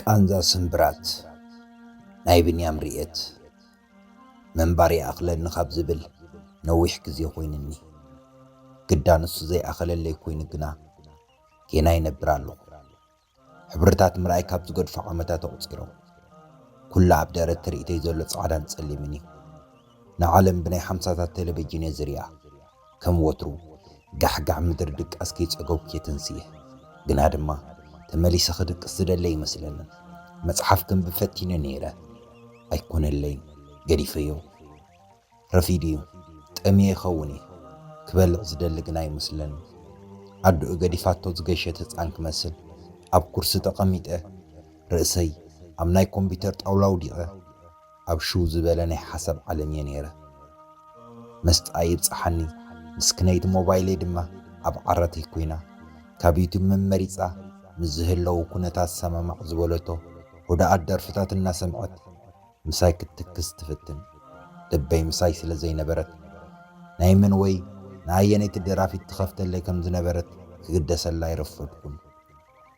ቃንዛ ስምብራት ናይ ብንያም ርእየት ምንባር ይኣኽለኒ ካብ ዝብል ነዊሕ ግዜ ኮይኑኒ። ግዳ ንሱ ዘይኣኸለለይ ኮይኑ ግና ጌና ይነብር ኣለኹ። ሕብርታት ምርኣይ ካብ ዝገድፉ ዓመታት ኣቑጺሮም። ኩሉ ኣብ ደረት ትርኢተይ ዘሎ ጻዕዳን ጸሊምን እዩ። ንዓለም ብናይ ሓምሳታት ተለቨጅን'የ ዝርእያ። ከም ወትሩ ጋሕጋሕ ምድሪ ድቃስ ከይጸገብኩ እየ ተንሲኤ። ግና ድማ ተመሊሰ ክድቅስ ዝደሊ ኣይመስለንን። መጽሓፍ ከንብብ ፈቲነ ነይረ። ኣይኮነለይን። ገዲፈዮ። ረፊዱ እዩ። ጠምየ ይኸውን እየ። ክበልዕ ዝደሊ ግና ኣይመስለንን። ኣደኡ ገዲፋቶ ዝገሸት ህጻን ክመስል ኣብ ኩርሲ ተቐሚጠ፣ ርእሰይ ኣብ ናይ ኮምፒተር ጣውላ ኣውዲቐ፣ ኣብ ሽው ዝበለ ናይ ሓሳብ ዓለም እየ ነይረ። መስጣ ይብጽሓኒ ምስክነይቲ ሞባይለይ ድማ ኣብ ዓራተይ ኮይና ካብ ዩቱብ መመሪጻ ምስ ዝህለው ኩነታት ሰማማዕ ዝበለቶ ሁዱኣት ደርፍታት እናሰምዐት ምሳይ ክትትክዝ ትፍትን። ልበይ ምሳይ ስለ ዘይነበረት ናይ መን ወይ ንኣየነይቲ ደራፊት ትኸፍተለይ ከም ዝነበረት ክግደሰላ ኣይረፈድኩን።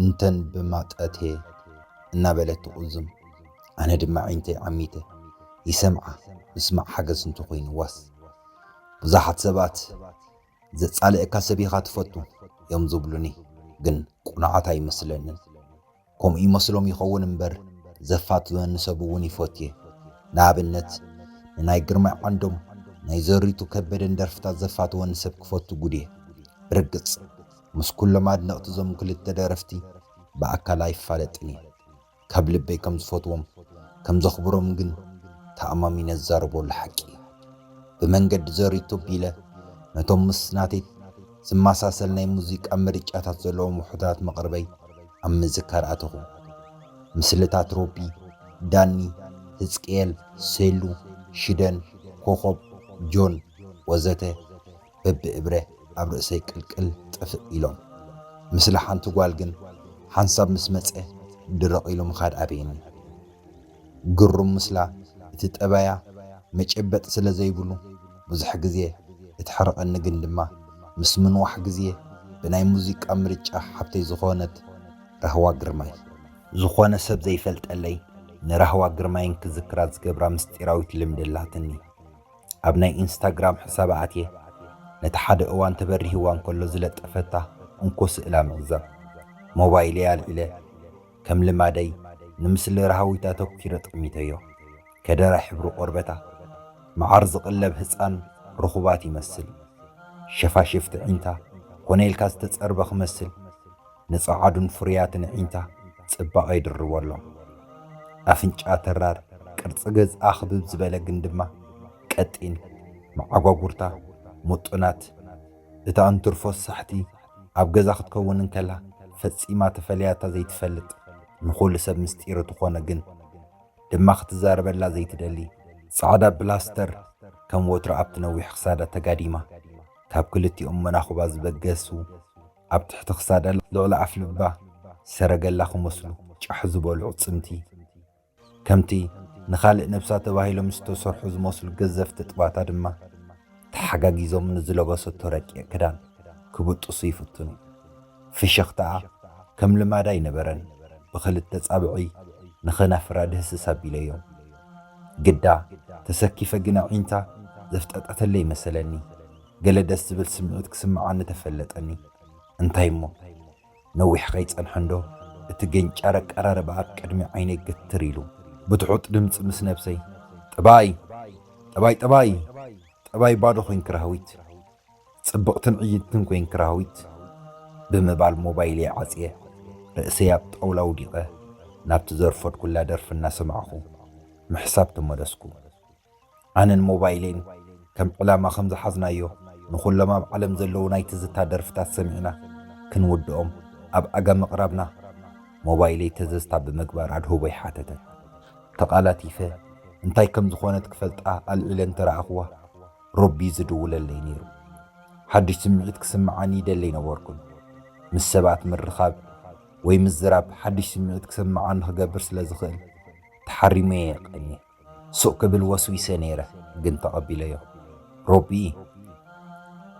እንተን ብማጠቴ እናበለት ትቑዝም፣ ኣነ ድማ ኣዒንተይ ዓሚተ ይሰምዓ፣ ምስማዕ ሓገዝ እንተኾይኑዋስ። ብዙሓት ሰባት ዘጻልእካ ሰብ ኢኻ ትፈቱ እዮም ዝብሉኒ፣ ግን ቅኑዓት ኣይመስለንን። ከምኡ ይመስሎም ይኸውን እምበር ዘፋትወኒ ሰብ'ውን ይፈቱ'የ፣ ንኣብነት ንናይ ግርማይ ዓንዶም፣ ናይ ዘሪቱ ከበደን ደርፍታት ዘፋትወኒ ሰብ ክፈቱ ግዱ'የ፣ ብርግጽ። ምስ ኩሎም ኣድነቅቲ እዞም ክልተ ደረፍቲ ብኣካል ኣይፋለጥን እየ ካብ ልበይ ከም ዝፈትዎም ከም ዘኽብሮም ግን ተኣማሚነ ዝዛረበሉ ሓቂ እዩ ብመንገዲ ዘሪቶ ኣቢለ ነቶም ምስ ናተይ ዝመሳሰል ናይ ሙዚቃ ምርጫታት ዘለዎም ውሑዳት መቅርበይ ኣብ ምዝካር ኣተኹ ምስልታት ሮቢ ዳኒ ህዝቅኤል ሴሉ ሽደን ኮኾብ ጆን ወዘተ በብእብረ ኣብ ርእሰይ ቅልቅል ጥፍእ ኢሎም። ምስሊ ሓንቲ ጓል ግን ሓንሳብ ምስ መጸ ድርቕ ኢሉ ምኻድ ኣበየኒ። ግሩም ምስላ እቲ ጠባያ መጨበጢ ስለ ዘይብሉ ብዙሕ ግዜ እትሕርቐኒ ግን ድማ ምስ ምንዋሕ ግዜ ብናይ ሙዚቃ ምርጫ ሓብተይ ዝኾነት ራህዋ ግርማይ። ዝኾነ ሰብ ዘይፈልጠለይ ንራህዋ ግርማይን ክዝክራ ዝገብራ ምስጢራዊት ልምዲ ኣላትኒ። ኣብ ናይ ኢንስታግራም ሕሳባ ኣትየ ነቲ ሓደ እዋን ተበሪህዋ እንከሎ ዝለጠፈታ እንኮ ስእላ ምዕዛብ ሞባይለይ ኣልዒለ ከም ልማደይ ንምስሊ ራሃዊት ኣተኲረ ጠሚተዮ። ከደራ ሕብሪ ቆርበታ መዓር ዝቅለብ ህጻን ሩኹባት ይመስል ሸፋሽፍቲ ዒንታ ኮነ ኢልካ ዝተጸርበ ክመስል፣ ንጸዓዱን ፍሩያትን ኣዒንታ ጽባቐ ይድርበሎም። ኣፍንጫ ተራር፣ ቅርጺ ገጽ ኣኽብብ ዝበለ ግን ድማ ቀጢን፣ መዓጓጉርታ ምጡናት፣ እታ እንትርፎስ ሳሕቲ ኣብ ገዛ ክትከውን እንከላ ፈጺማ ተፈልያታ ዘይትፈልጥ፣ ንኹሉ ሰብ ምስጢር እትኾነ ግን ድማ ክትዛረበላ ዘይትደሊ፣ ጻዕዳ ብላስተር ከም ወትራ ኣብቲ ነዊሕ ክሳዳ ተጋዲማ ካብ ክልቲኦም መናኹባ ዝበገሱ፣ ኣብ ትሕቲ ክሳዳ ልዕሊ ኣፍልባ ሰረገላ ክመስሉ ጫሕ ዝበሉ ኣዕጽምቲ፣ ከምቲ ንኻልእ ነብሳ ተባሂሎም ዝተሰርሑ ዝመስሉ ገዘፍቲ ጥባታ ድማ ተሓጋጊዞም ንዝለበሰቶ ረቂቕ ክዳን ክብጥሱ ይፍትኑ። ፍሽኽታኣ ከም ልማዳ ኣይነበረን፣ ብኽልተ ጻብዕይ ንኸናፍራ ድህስስ ኣቢለዮ። ግዳ ተሰኪፈ ግን ኣዒንታ ዘፍጠጠተለይ መሰለኒ። ገለ ደስ ዝብል ስምዒት ክስምዓኒ ተፈለጠኒ። እንታይ እሞ፣ ነዊሕ ከይጸንሐ'ንዶ፣ እቲ ገንጫር ኣቀራርባ ኣብ ቅድሚ ዓይነይ ግትር ኢሉ። ብትሑት ድምጺ ምስ ነብሰይ፣ ጠባይ! ጠባይ! ጠባይ! ጠባይ ባዶ ኮይንኪ ራህዊት! ጽብቕትን ዕይንትን ኮይንኪ ራህዊት! ብምባል ሞባይለይ ዓጽየ፣ ርእሰይ ኣብ ጣውላ ኣውዲቐ፣ ናብቲ ዘርፈድኩላ ደርፊ እናሰማዕኩ፣ ምሕሳብ ተመለስኩ። ኣነን ሞባይለይን ከም ዕላማ ከም ዝሓዝናዮ ንኹሎም ኣብ ዓለም ዘለዉ ናይ ትዝታ ደርፍታት ሰሚዕና ክንውድኦም ኣብ ኣጋ ምቕራብና ሞባይለይ ተዘዝታ ብምግባር ኣድህቦይ ሓተተት። ተቓላቲፈ እንታይ ከም ዝኾነት ክፈልጣ ኣልዒለ እንተረኣኹዋ ሮቢ'ዩ ዝድውለለይ ነይሩ። ሓድሽ ስምዒት ክስምዓኒ ይደሊ ኣይነበርኩን። ምስ ሰባት ምርኻብ ወይ ምዝራብ ሓድሽ ስምዒት ክስምዓኒ ክገብር ስለ ዝኽእል ተሓሪመ'የ ቀንየ። ሱቕ ክብል ወስዊሰ ነይረ ግን ተቐቢለዮ። ሮቢ፣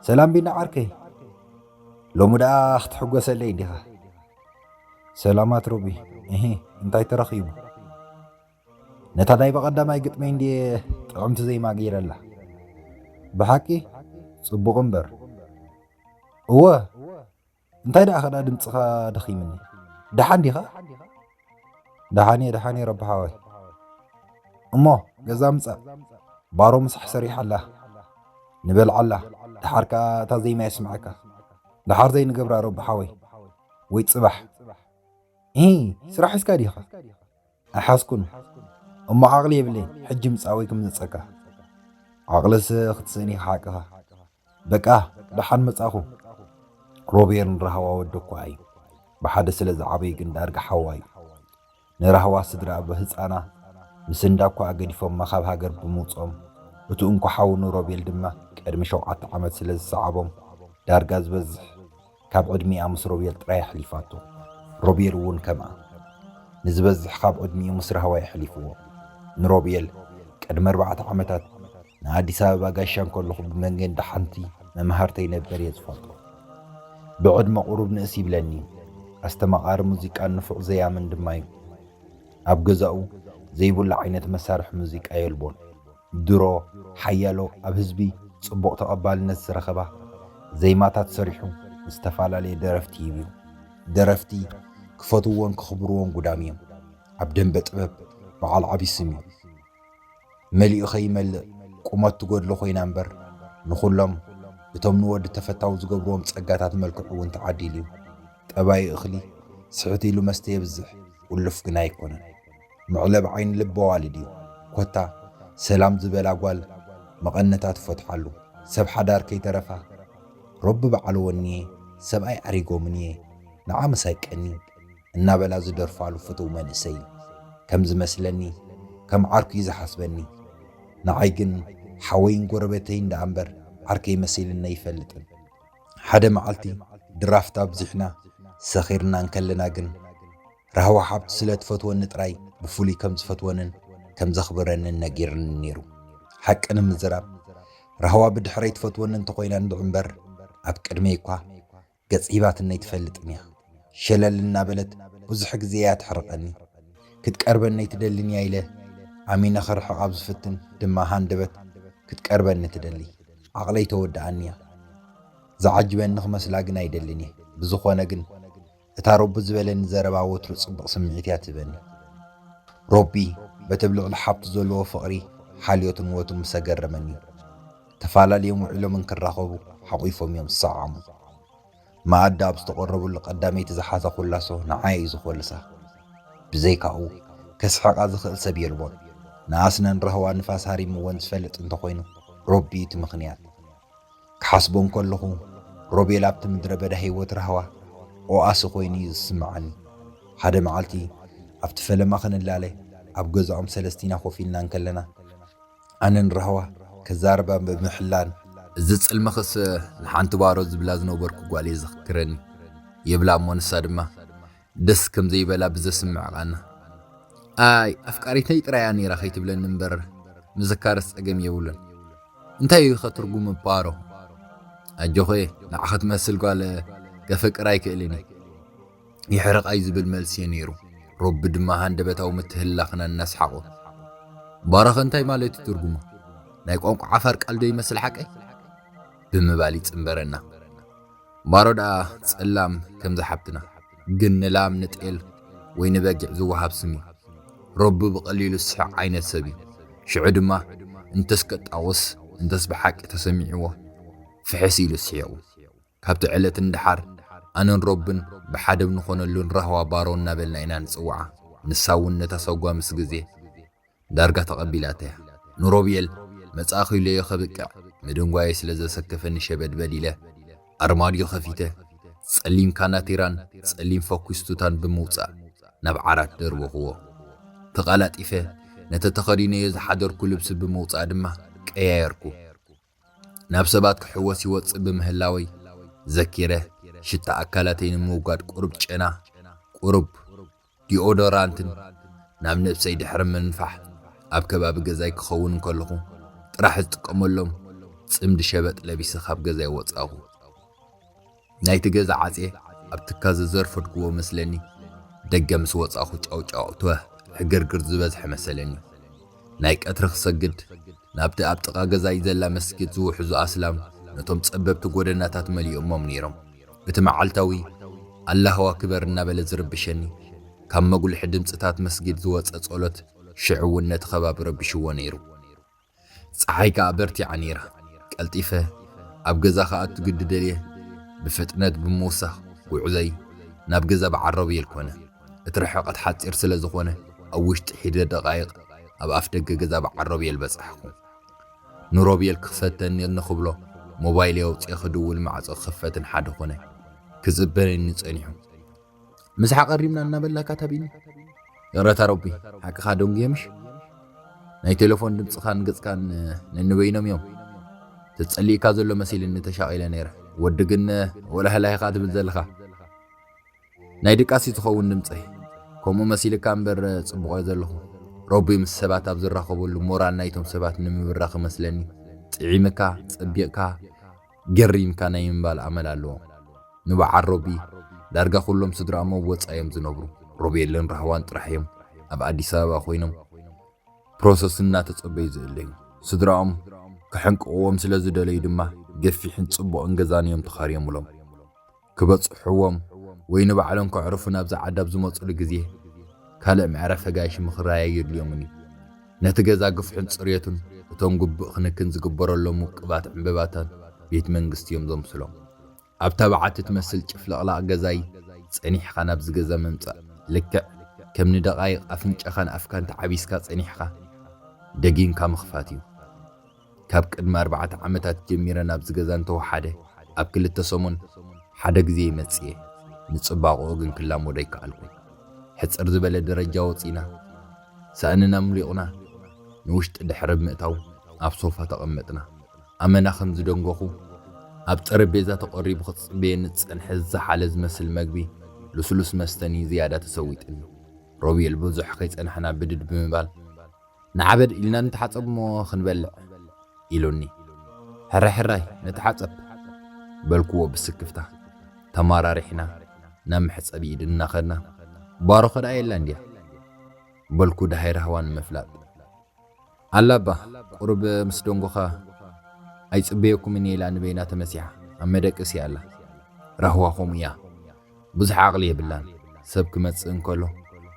ሰላም ቢኒ ዓርከይ፣ ሎሚ ደኣ ክትሕጎሰለይ ዲኻ? ሰላማት ሮቢ፣ እሂ እንታይ ተረኺቡ? ነታ ናይ በቐዳማይ ግጥመይ እንድየ ጥዕምቲ ዜማ ገይረላ። ብሓቂ ጽቡቕ እምበር። እወ! እንታይ ደኣ ከዳ ድምጽኻ ደኺምኒ ደሓን ዲኻ ደሓን እየ ደሓን እየ ረቢ ሓወይ እሞ ገዛ ምጻእ ባሮ ምሳሕ ሰሪሓ ኣላ ንበልዓ ኣላ ደሓር ከኣ እታ ዘይማ የስምዓካ ደሓር ዘይንገብራ ረቢ ሓወይ ወይ ጽባሕ ኢ ስራሕ ሒዝካ ዲኻ ኣይሓዝኩን እሞ ዓቕሊ የብለይ ሕጂ ምጻእ ወይ ክምነጸካ ዓቕልስ ክትስእን ኢኻ ሓቅኻ በቃ ደሓን መጻኹም። ሮቤል ንራህዋ ወዲ እኳ እዩ፣ ብሓደ ስለ ዝዓበዩ ግን ዳርጋ ሓዋ እዩ። ንራህዋ ስድራኣ ብህጻና ምስ እንዳ እኳኣ ገዲፎማ ካብ ሃገር ብምውጽኦም፣ እቱ እንኮ ሓው ንሮቤል ድማ ቀድሚ ሸውዓተ ዓመት ስለ ዝሰዓቦም ዳርጋ ዝበዝሕ፣ ካብ ዕድሚኣ ምስ ሮቤል ጥራይ ኣሕሊፋቶ ሮቤል እውን ከምኣ ንዝበዝሕ ካብ ዕድሚኡ ምስ ራህዋ የሕሊፍዎ ንሮቤል ቅድሚ ኣርባዕተ ዓመታት ንኣዲስ ኣበባ ጋሻ እንከለኹ ብመንገዲ ሓንቲ መምሃርተይ ነበር እየ ዝፈልጦ ብዕድመ ቁሩብ ንእስ ይብለኒ እዩ ኣስተማቓሪ ሙዚቃን ንፉዕ ዘያምን ድማ እዩ ኣብ ገዛኡ ዘይብሉ ዓይነት መሳርሒ ሙዚቃ የልቦን ድሮ ሓያሎ ኣብ ህዝቢ ጽቡቕ ተቐባልነት ዝረኸባ ዘይማታት ሰሪሑ ንዝተፋላለየ ደረፍቲ ሂቡ'ዩ። ደረፍቲ ክፈትውዎን ከኽብርዎን ጉዳም'ዮም። ኣብ ደምበ ጥበብ በዓል ዓቢ ስም'ዩ። መሊኡ ከይመልእ ቁመት ትጎድሎ ኮይና እምበር ንኹሎም እቶም ንወዲ ተፈታዊ ዝገብርዎም ጸጋታት መልክዕ'ውን ተዓዲሉ'ዩ። ጠባዩ እኽሊ ስሕት ኢሉ መስተ የብዝሕ ኡሉፍ ግና ኣይኮነን። መዕለቢ ዓይኒ ልበ ኣዋልድ እዩ ኮታ ሰላም ዝበላ ጓል መቐነታ ትፈትሓሉ ሰብ ሓዳር ከይተረፋ ሮቢ በዓል ወኒየ ሰብኣይ ኣሪጎምኒየ ንዓ ምሳይ ቀኒ እናበላ ዝደርፋሉ ፍትው መንእሰይ ከም ዝመስለኒ ከም ዓርኩ እዩ ዝሓስበኒ ንዓይ ግን ሓወይን ጎረበተይን ደኣ እምበር ዓርከይ መሲልኒ ኣይፈልጥን ሓደ መዓልቲ ድራፍት ኣብዚሕና ሰኺርና እንከለና ግን ራህዋ ሓብቲ ስለ እትፈትወኒ ጥራይ ብፍሉይ ከም ዝፈትወንን ከም ዘኽብረንን ነጊሩኒ ነይሩ። ሓቂ ንምዝራብ፣ ራህዋ ብድሕረይ ትፈትወኒ እንተ ዀይና እንድዒ እምበር፣ ኣብ ቅድመይ እኳ ገጽ ሂባትኒ ኣይትፈልጥን እያ። ሸለል እናበለት ብዙሕ ግዜ እያ እትሕርቐኒ። ክትቀርበኒ ኣይትደልን እያ ኢለ ኣሚነ ክርሕቕ ኣብ ዝፍትን ድማ ሃንደበት ክትቀርበኒ ትደሊ። ዓቕለይ ተወድኣኒ እያ። ዝዓጅበኒ ክመስላ ግን ኣይደልን እየ። ብዝዀነ ግን፣ እታ ሮቢ ዝበለኒ ዘረባ ወትሩ ጽብቕ ስምዒት እያ ትህበኒ። ሮቢ በቲ ኣብ ልዕሊ ሓብቱ ዘለዎ ፍቕሪ፣ ሓልዮትን ወትሩ ምስ ኣገረመኒ። ተፋላልዮም ውዒሎም እንክራኸቡ ሓቝፎም እዮም ዝሰዓዓሙ። መኣዲ ኣብ ዝተቐረቡሉ ቀዳመይቲ ዝሓዛ ኮላሶ ንዓይ እዩ ዝኾልሳ። ብዘይካኡ ከስሕቓ ዝኽእል ሰብ የልቦን። ንኣስነን ራህዋ ንፋስ ሃሪምወን ዝፈልጥ እንተኾይኑ ሮቢ እቲ ምኽንያት። ክሓስቦ እንከለኹ ሮቤል ኣብቲ ምድረ በዳ ህይወት ራህዋ ኦኣሲ ኮይኑ እዩ ዝስምዓኒ። ሓደ መዓልቲ ኣብቲ ፈለማ ክንላለ ኣብ ገዛኦም ሰለስቲና ኮፍ ኢልና እንከለና ኣነ ንራህዋ ከዛርባ ብምሕላን፣ እዚ ጽልምኽስ ንሓንቲ ባሮ ዝብላ ዝነበርኩ ጓል እየ ዘኽክረኒ ይብላ እሞ ንሳ ድማ ደስ ከም ዘይበላ ብዘስምዕ ቓና፣ ኣይ ኣፍቃሪተይ ጥራይ'ያ ነይራ ከይትብለኒ እምበር ምዝካርስ ጸገም የብሉን። እንታይ'ዩ'ኸ ትርጉም ምጳሩ? ኣጆኺ ንዓኺ ትመስል ጓል ከፍቅር ኣይክእልን'የ። ይሕረቓይ ዝብል መልሲ'ዩ ነይሩ። ሮቢ ድማ ሃንደበታዊ ምትህልላኽና እናስሓቑ፣ ባራኸ እንታይ ማለት'ዩ ትርጉሙ? ናይ ቋንቋ ዓፋር ቃል'ዶ ይመስል ሓቀይ? ብምባል ይጽንበረና። ባሮ ደኣ ጸላም ከምዛ ሓብትና ግን ንላም ንጤል ወይ ንበጊዕ ዝወሃብ ስም እዩ። ሮቢ ብቐሊሉ ዝስሕቕ ዓይነት ሰብ እዩ። ሽዑ ድማ እንተስ ከጣውስ እንተስ ብሓቂ ተሰሚዕዎ ፍሕስ ኢሉ ስሒቑ። ካብቲ ዕለት ንደሓር ኣነን ሮብን ብሓደ ብ ንኾነሉን ራህዋ ባሮ እናበልና ኢና ንጽውዓ። ንሳ እውን ነታ ሰጓ ምስ ግዜ። ዳርጋ ተቐቢላተያ። ንሮብኤል መጻእኺሎዮ ከብቅዕ ምድንጓየይ ስለ ዘሰከፈኒ ሸበድበድ ኢለ ኣርማድዮ ከፊተ ጸሊም ካናቲራን ጸሊም ፈኲስ ቱታን ብምውጻእ ናብ ዓራት ደርበኹዎ። ተቓላጢፈ ነቲ ተኸዲነዮ ዝሓደርኩ ልብሲ ብምውጻእ ድማ ቀያየርኩ። ናብ ሰባት ክሕወስ ይወጽእ ብምህላወይ ዘኪረ ሽታ ኣካላተይ ንምውጋድ ቁሩብ ጨና፣ ቁሩብ ዲኦዶራንትን ናብ ነብሰይ ድሕሪ ምንፋሕ ኣብ ከባቢ ገዛይ ክኸውን እንከለኹ ጥራሕ ዝጥቀመሎም ጽምዲ ሸበጥ ለቢሰ ካብ ገዛይ ወጻኹ። ናይቲ ገዛ ዓጽየ ኣብ ትካዘ ዘርፈድኩዎ መስለኒ ደገ ምስ ወጻኹ ጫውጫው ትዋህ ሕግርግር ዝበዝሐ መሰለኒ ናይ ቀትሪ ክሰግድ ናብቲ ኣብ ጥቃ ገዛይ ዘላ መስጊድ ዝውሕዙ ኣስላም ነቶም ጸበብቲ ጎደናታት መሊኦሞም ኔሮም እቲ መዓልታዊ ኣላሁ ኣክበር እናበለ ዝርብሸኒ ካብ መጉልሒ ድምጽታት መስጊድ ዝወጸ ጸሎት ሽዑ ውን ነቲ ከባቢ ረቢሽዎ ኔሩ ጸሓይ ከኣ በርቲዓ ነይራ። ቀልጢፈ ኣብ ገዛ ክኣቱ ግዲ ደልየ ብፍጥነት ብምውሳኽ ጉዕዞይ ናብ ገዛ በዓል ሮቤል ኮነ። እቲ ርሕቐት ሓጺር ስለ ዝኾነ ኣብ ውሽጢ ሒደ ደቓይቕ ኣብ ኣፍደገ ገዛ በዓል ሮቤል በጻሕኩ። ንሮቤል ክፈተኒ ንክብሎ ሞባይለይ ኣውጺኤ ክድውል ማዕጾ ክኽፈትን ሓደ ኮነ። ክጽበነኒ ጸኒሑ። ምስ ሓቐሪምና እናበላካ ተቢኒ ይቕረታ ረቢ ሓቅኻ ዶንግየምሽ ናይ ቴሌፎን ድምፅኻን ገፅካን ነንበይኖም እዮም ተጸሊእካ ዘሎ መሲልኒ ተሻቒለ ነይረ ወዲ ግን ወላህላይኻ ትብል ዘለኻ ናይ ድቃሲ ዝኸውን ድምፂ ከምኡ መሲልካ እምበር ጽቡቕ እየ ዘለኹ ረቢ ምስ ሰባት ኣብ ዝራኸበሉ ሞራል ናይቶም ሰባት ንምብራኽ መስለኒ ጥዒምካ ጸቢቕካ ገሪምካ ናይ ምባል ኣመል ኣለዎም። ንበዓል ሮቢ ዳርጋ ኩሎም ስድርኣም ኣብ ወጻኢ እዮም ዝነብሩ። ሮቤልን ራህዋን ጥራሕ እዮም ኣብ ኣዲስ ኣበባ ኮይኖም ፕሮሰስ እናተጸበዩ ዝእለዩ። ስድራኦም ከሕንቅቕዎም ስለ ዝደለዩ ድማ ገፊሕን ጽቡቕን ገዛን እዮም ተኻርዮምሎም። ክበጽሕዎም ወይ ንባዕሎም ከዕርፉ ናብዛ ዓዲ ኣብ ዝመጹሉ ግዜ ካልእ መዕረፊ ኣጋይሽ ምኽራይ ኣየድልዮምን እዩ። ነቲ ገዛ ግፍሑን ጽርየቱን እቶም ግቡእ ክንክን ዝግበረሎም ውቁባት ዕንበባታት ቤት መንግስቲ እዮም ዘምስሎም። ኣብታ በዓቲ ትመስል ጭፍልቕላቕ ገዛይ ጸኒሕካ ናብዚ ገዛ ምምጻእ ልክዕ ከም ንደቓይቕ ኣፍንጫኻን ኣፍካን ተዓቢስካ ጸኒሕካ ደጊምካ ምኽፋት እዩ። ካብ ቅድሚ ኣርባዕተ ዓመታት ጀሚረ ናብዚ ገዛ እንተወሓደ ኣብ ክልተ ሰሙን ሓደ ግዜ ይመጽእ እየ። ንጽባቐኡ ግን ክላመዶ ኣይከኣልኩን። ሕጽር ዝበለ ደረጃ ወጺእና፣ ሳእንና ኣምሊቑና ንውሽጢ ድሕሪ ምእታው ኣብ ሶፋ ተቐመጥና። ኣመና ከም ዝደንጎኹ፣ ኣብ ጠረጴዛ ተቐሪቡ ክጽበየኒ ዝጸንሐ ዝዘሓለ ዝመስል መግቢ፣ ልስሉስ መስተን እዩ ዝያዳ ተሰዊጡኒ። ሮቤል ብዙሕ ከይጸናሕና ብድድ ብምባል ንዓበድ ኢልና ንተሓጸብ'ሞ ክንበልዕ፣ ኢሉኒ። ሕራይ ሕራይ ንተሓጸብ፣ በልኩዎ ብስክፍታ። ተመራሪሕና ናብ መሕጸቢ ኢድ እናኸድና፣ ባሮኸ ደኣ የላን ድያ? በልኩ ደሃይ ራህዋ ንምፍላጥ። ኣላ'ባ፣ ቁሩብ ምስ ደንጎኻ ኣይጽበየኩምን'የ ኢላ ንበይና ተመሲሓ ኣብ መደቀሲኣ ኣላ። ራህዋ ከምኡ'ያ። ብዙሕ ዓቕሊ የብላን፣ ሰብ ክመጽእ እንከሎ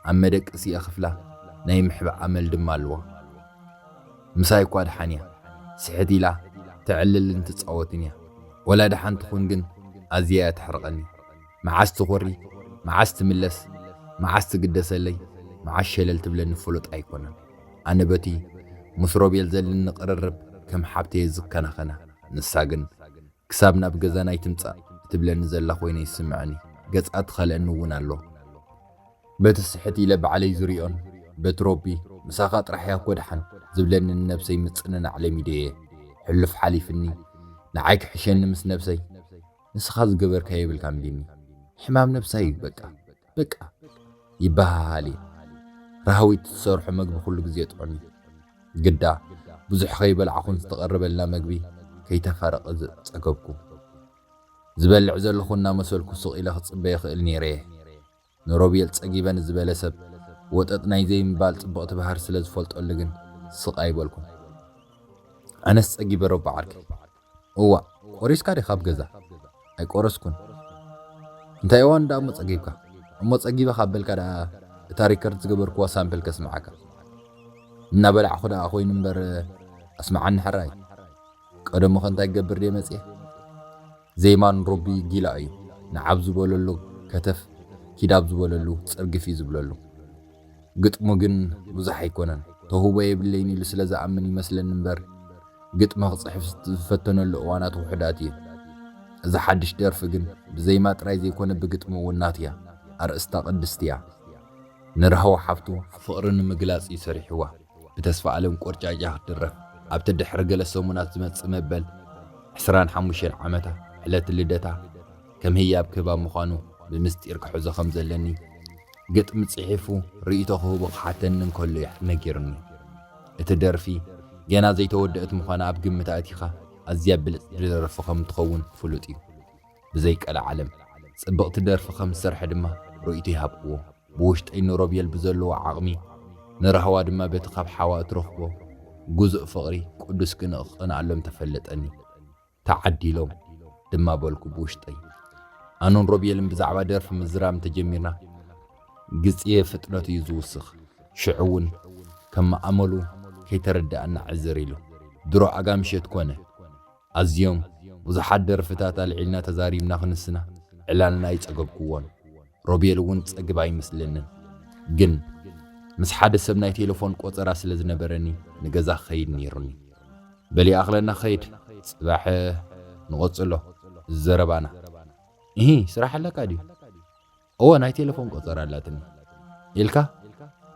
ኣብ መደቀሲ የኽፍላ፣ ናይ ምሕባእ ኣመል ድማ ኣሎዋ። ምሳይ እኳ ደሓን እያ፣ ስሕት ኢላ ተዕልልን ትጻወትን እያ፣ ወላ ደሓን ትኹን ግን ኣዝያ እያ ተሕርቐኒ። መዓስ ትኾሪ፣ መዓስ ትምለስ፣ መዓስ ትግደሰለይ፣ መዓስ ሸለል ትብለኒ ፍሉጥ ኣይኮነን። ኣነ በቲ ምስ ሮቤል ዘልኒ ቅርርብ ከም ሓብቲ እየ ዝከናኸና፣ ንሳ ግን ክሳብ ናብ ገዛና ኣይትምጻእ እትብለኒ ዘላ ኮይነ ይስምዐኒ። ገጻ ትኸልአኒ እውን ኣሎ። በቲ ስሕት ኢለ ባዕለይ ዝሪኦን በቲ ሮቢ ምሳኻ ጥራሕ እያ እኮ ደሓን ዝብለኒ ንነብሰይ ምጽንናዕ ለሚደ እየ። ሕሉፍ ሓሊፍኒ ንዓይ ክሕሸኒ ምስ ነብሰይ ንስኻ ዝገበርካዮ የብልካን ቢኒ። ሕማም ነብሳ እዩ በቃ። በቃ ይበሃሃል እዩ። ራህዊት ትሰርሖ መግቢ ኩሉ ግዜ ጥዑም እዩ። ግዳ ብዙሕ ከይበላዕኹን ዝተቐረበልና መግቢ ከይተፋረቐ ጸገብኩ። ዝበልዕ ዘለኹ እናመሰልኩ ስቕ ኢለ ክጽበ ይኽእል ነይረ እየ። ንሮቤል ጸጊበ ንዝበለ ሰብ ወጠጥ ናይ ዘይምባል ጽብቕቲ ባህሪ ስለ ዝፈልጠሉ ግን ስቕ ኣይበልኩን። ኣነስ ጸጊበ ረቡዕ ዓርከይ። እዋእ ቆሪስካ ዲካ ኣብ ገዛ? ኣይቆረስኩን። እንታይ እዋን ድኣ እሞ ጸጊብካ? እሞ ጸጊበ ካብ በልካ ድኣ እታ ሪከርድ ዝገበርክዋ ሳምፕል ከስምዓካ። እናበላዕኩ ድኣ ኮይኑ እምበር ኣስምዓኒ ሕራይ። ቀደሙከ እንታይ ክገብር ድየ መጽየ? ዜማ ንሮቢ ጊላ እዩ። ንዓብ ዝበለሉ ከተፍ ኪድ ኣብ ዝበለሉ ጽርግፍ እዩ ዝብለሉ። ግጥሙ ግን ብዙሕ ኣይኮነን፣ ተውህቦ የብለይን ኢሉ ስለ ዝኣምን ይመስለኒ እምበር ግጥሚ ክጽሕፍ ዝፈተነሉ እዋናት ውሑዳት እየን። እዛ ሓድሽ ደርፊ ግን ብዜማ ጥራይ ዘይኮነ ብግጥሚ እውን ናቱ'ያ፣ ኣርእስታ ቅድስቲ'ያ። ንራህዋ ሓብቱ ፍቕሪ ንምግላጽ እዩ ሰሪሑዋ፣ ብተስፋኣለም ቆርጫጭ'ያ ክትድረፍ፣ ኣብቲ ድሕሪ ገለ ሰሙናት ዝመጽእ መበል ዕስራን ሓሙሽተን ዓመታ ዕለት ልደታ ከም ህያብ ክህባ ምዃኑ ብምስጢር ክሕዞ ከም ዘለኒ ግጥሚ ጽሒፉ ርእይቶ ክህቦ ክሓተኒ እንከሎ እዩ ነጊሩኒ። እቲ ደርፊ ገና ዘይተወደእት ምዃና ኣብ ግምት ኣእቲኻ ኣዝያ ብልጽቲ ደርፊ ከም እትኸውን ፍሉጥ እዩ። ብዘይ ቀልዓለም ጽብቕቲ ደርፊ ከም ዝሰርሐ ድማ ርእይቶ ይሃብክዎ። ብውሽጠይ ንሮቤል ብዘለዎ ዓቕሚ ንራህዋ ድማ በቲ ካብ ሓዋ እትረኽቦ ግዙእ ፍቕሪ ቅዱስ ቅንኢ ክቐንኣሎም ተፈለጠኒ። ተዓዲሎም ድማ በልኩ ብውሽጠይ። ኣነን ሮቤልን ብዛዕባ ደርፊ ምዝራብ እንተጀሚርና ግጽየ ፍጥነቱ እዩ ዝውስኽ። ሽዑ እውን ከም መኣመሉ ከይተረድኣና ዕዝር ኢሉ። ድሮ ኣጋ ምሸት ኮነ። ኣዝዮም ብዙሓት ደርፍታት ኣልዒልና ተዛሪብና ክንስና ዕላልና ኣይጸገብኩዎን። ሮቤል እውን ጸግብ ኣይመስለንን ግን ምስ ሓደ ሰብ ናይ ቴለፎን ቆጸራ ስለ ዝነበረኒ ንገዛ ክኸይድ ነይሩኒ። በሊ ኣኽለና ኸይድ ጽባሕ ንቐጽሎ ዘረባና። እሂ ስራሕ ኣለካ ድዩ? እወ ናይ ቴለፎን ቆጸራ ኣላትኒ ኢልካ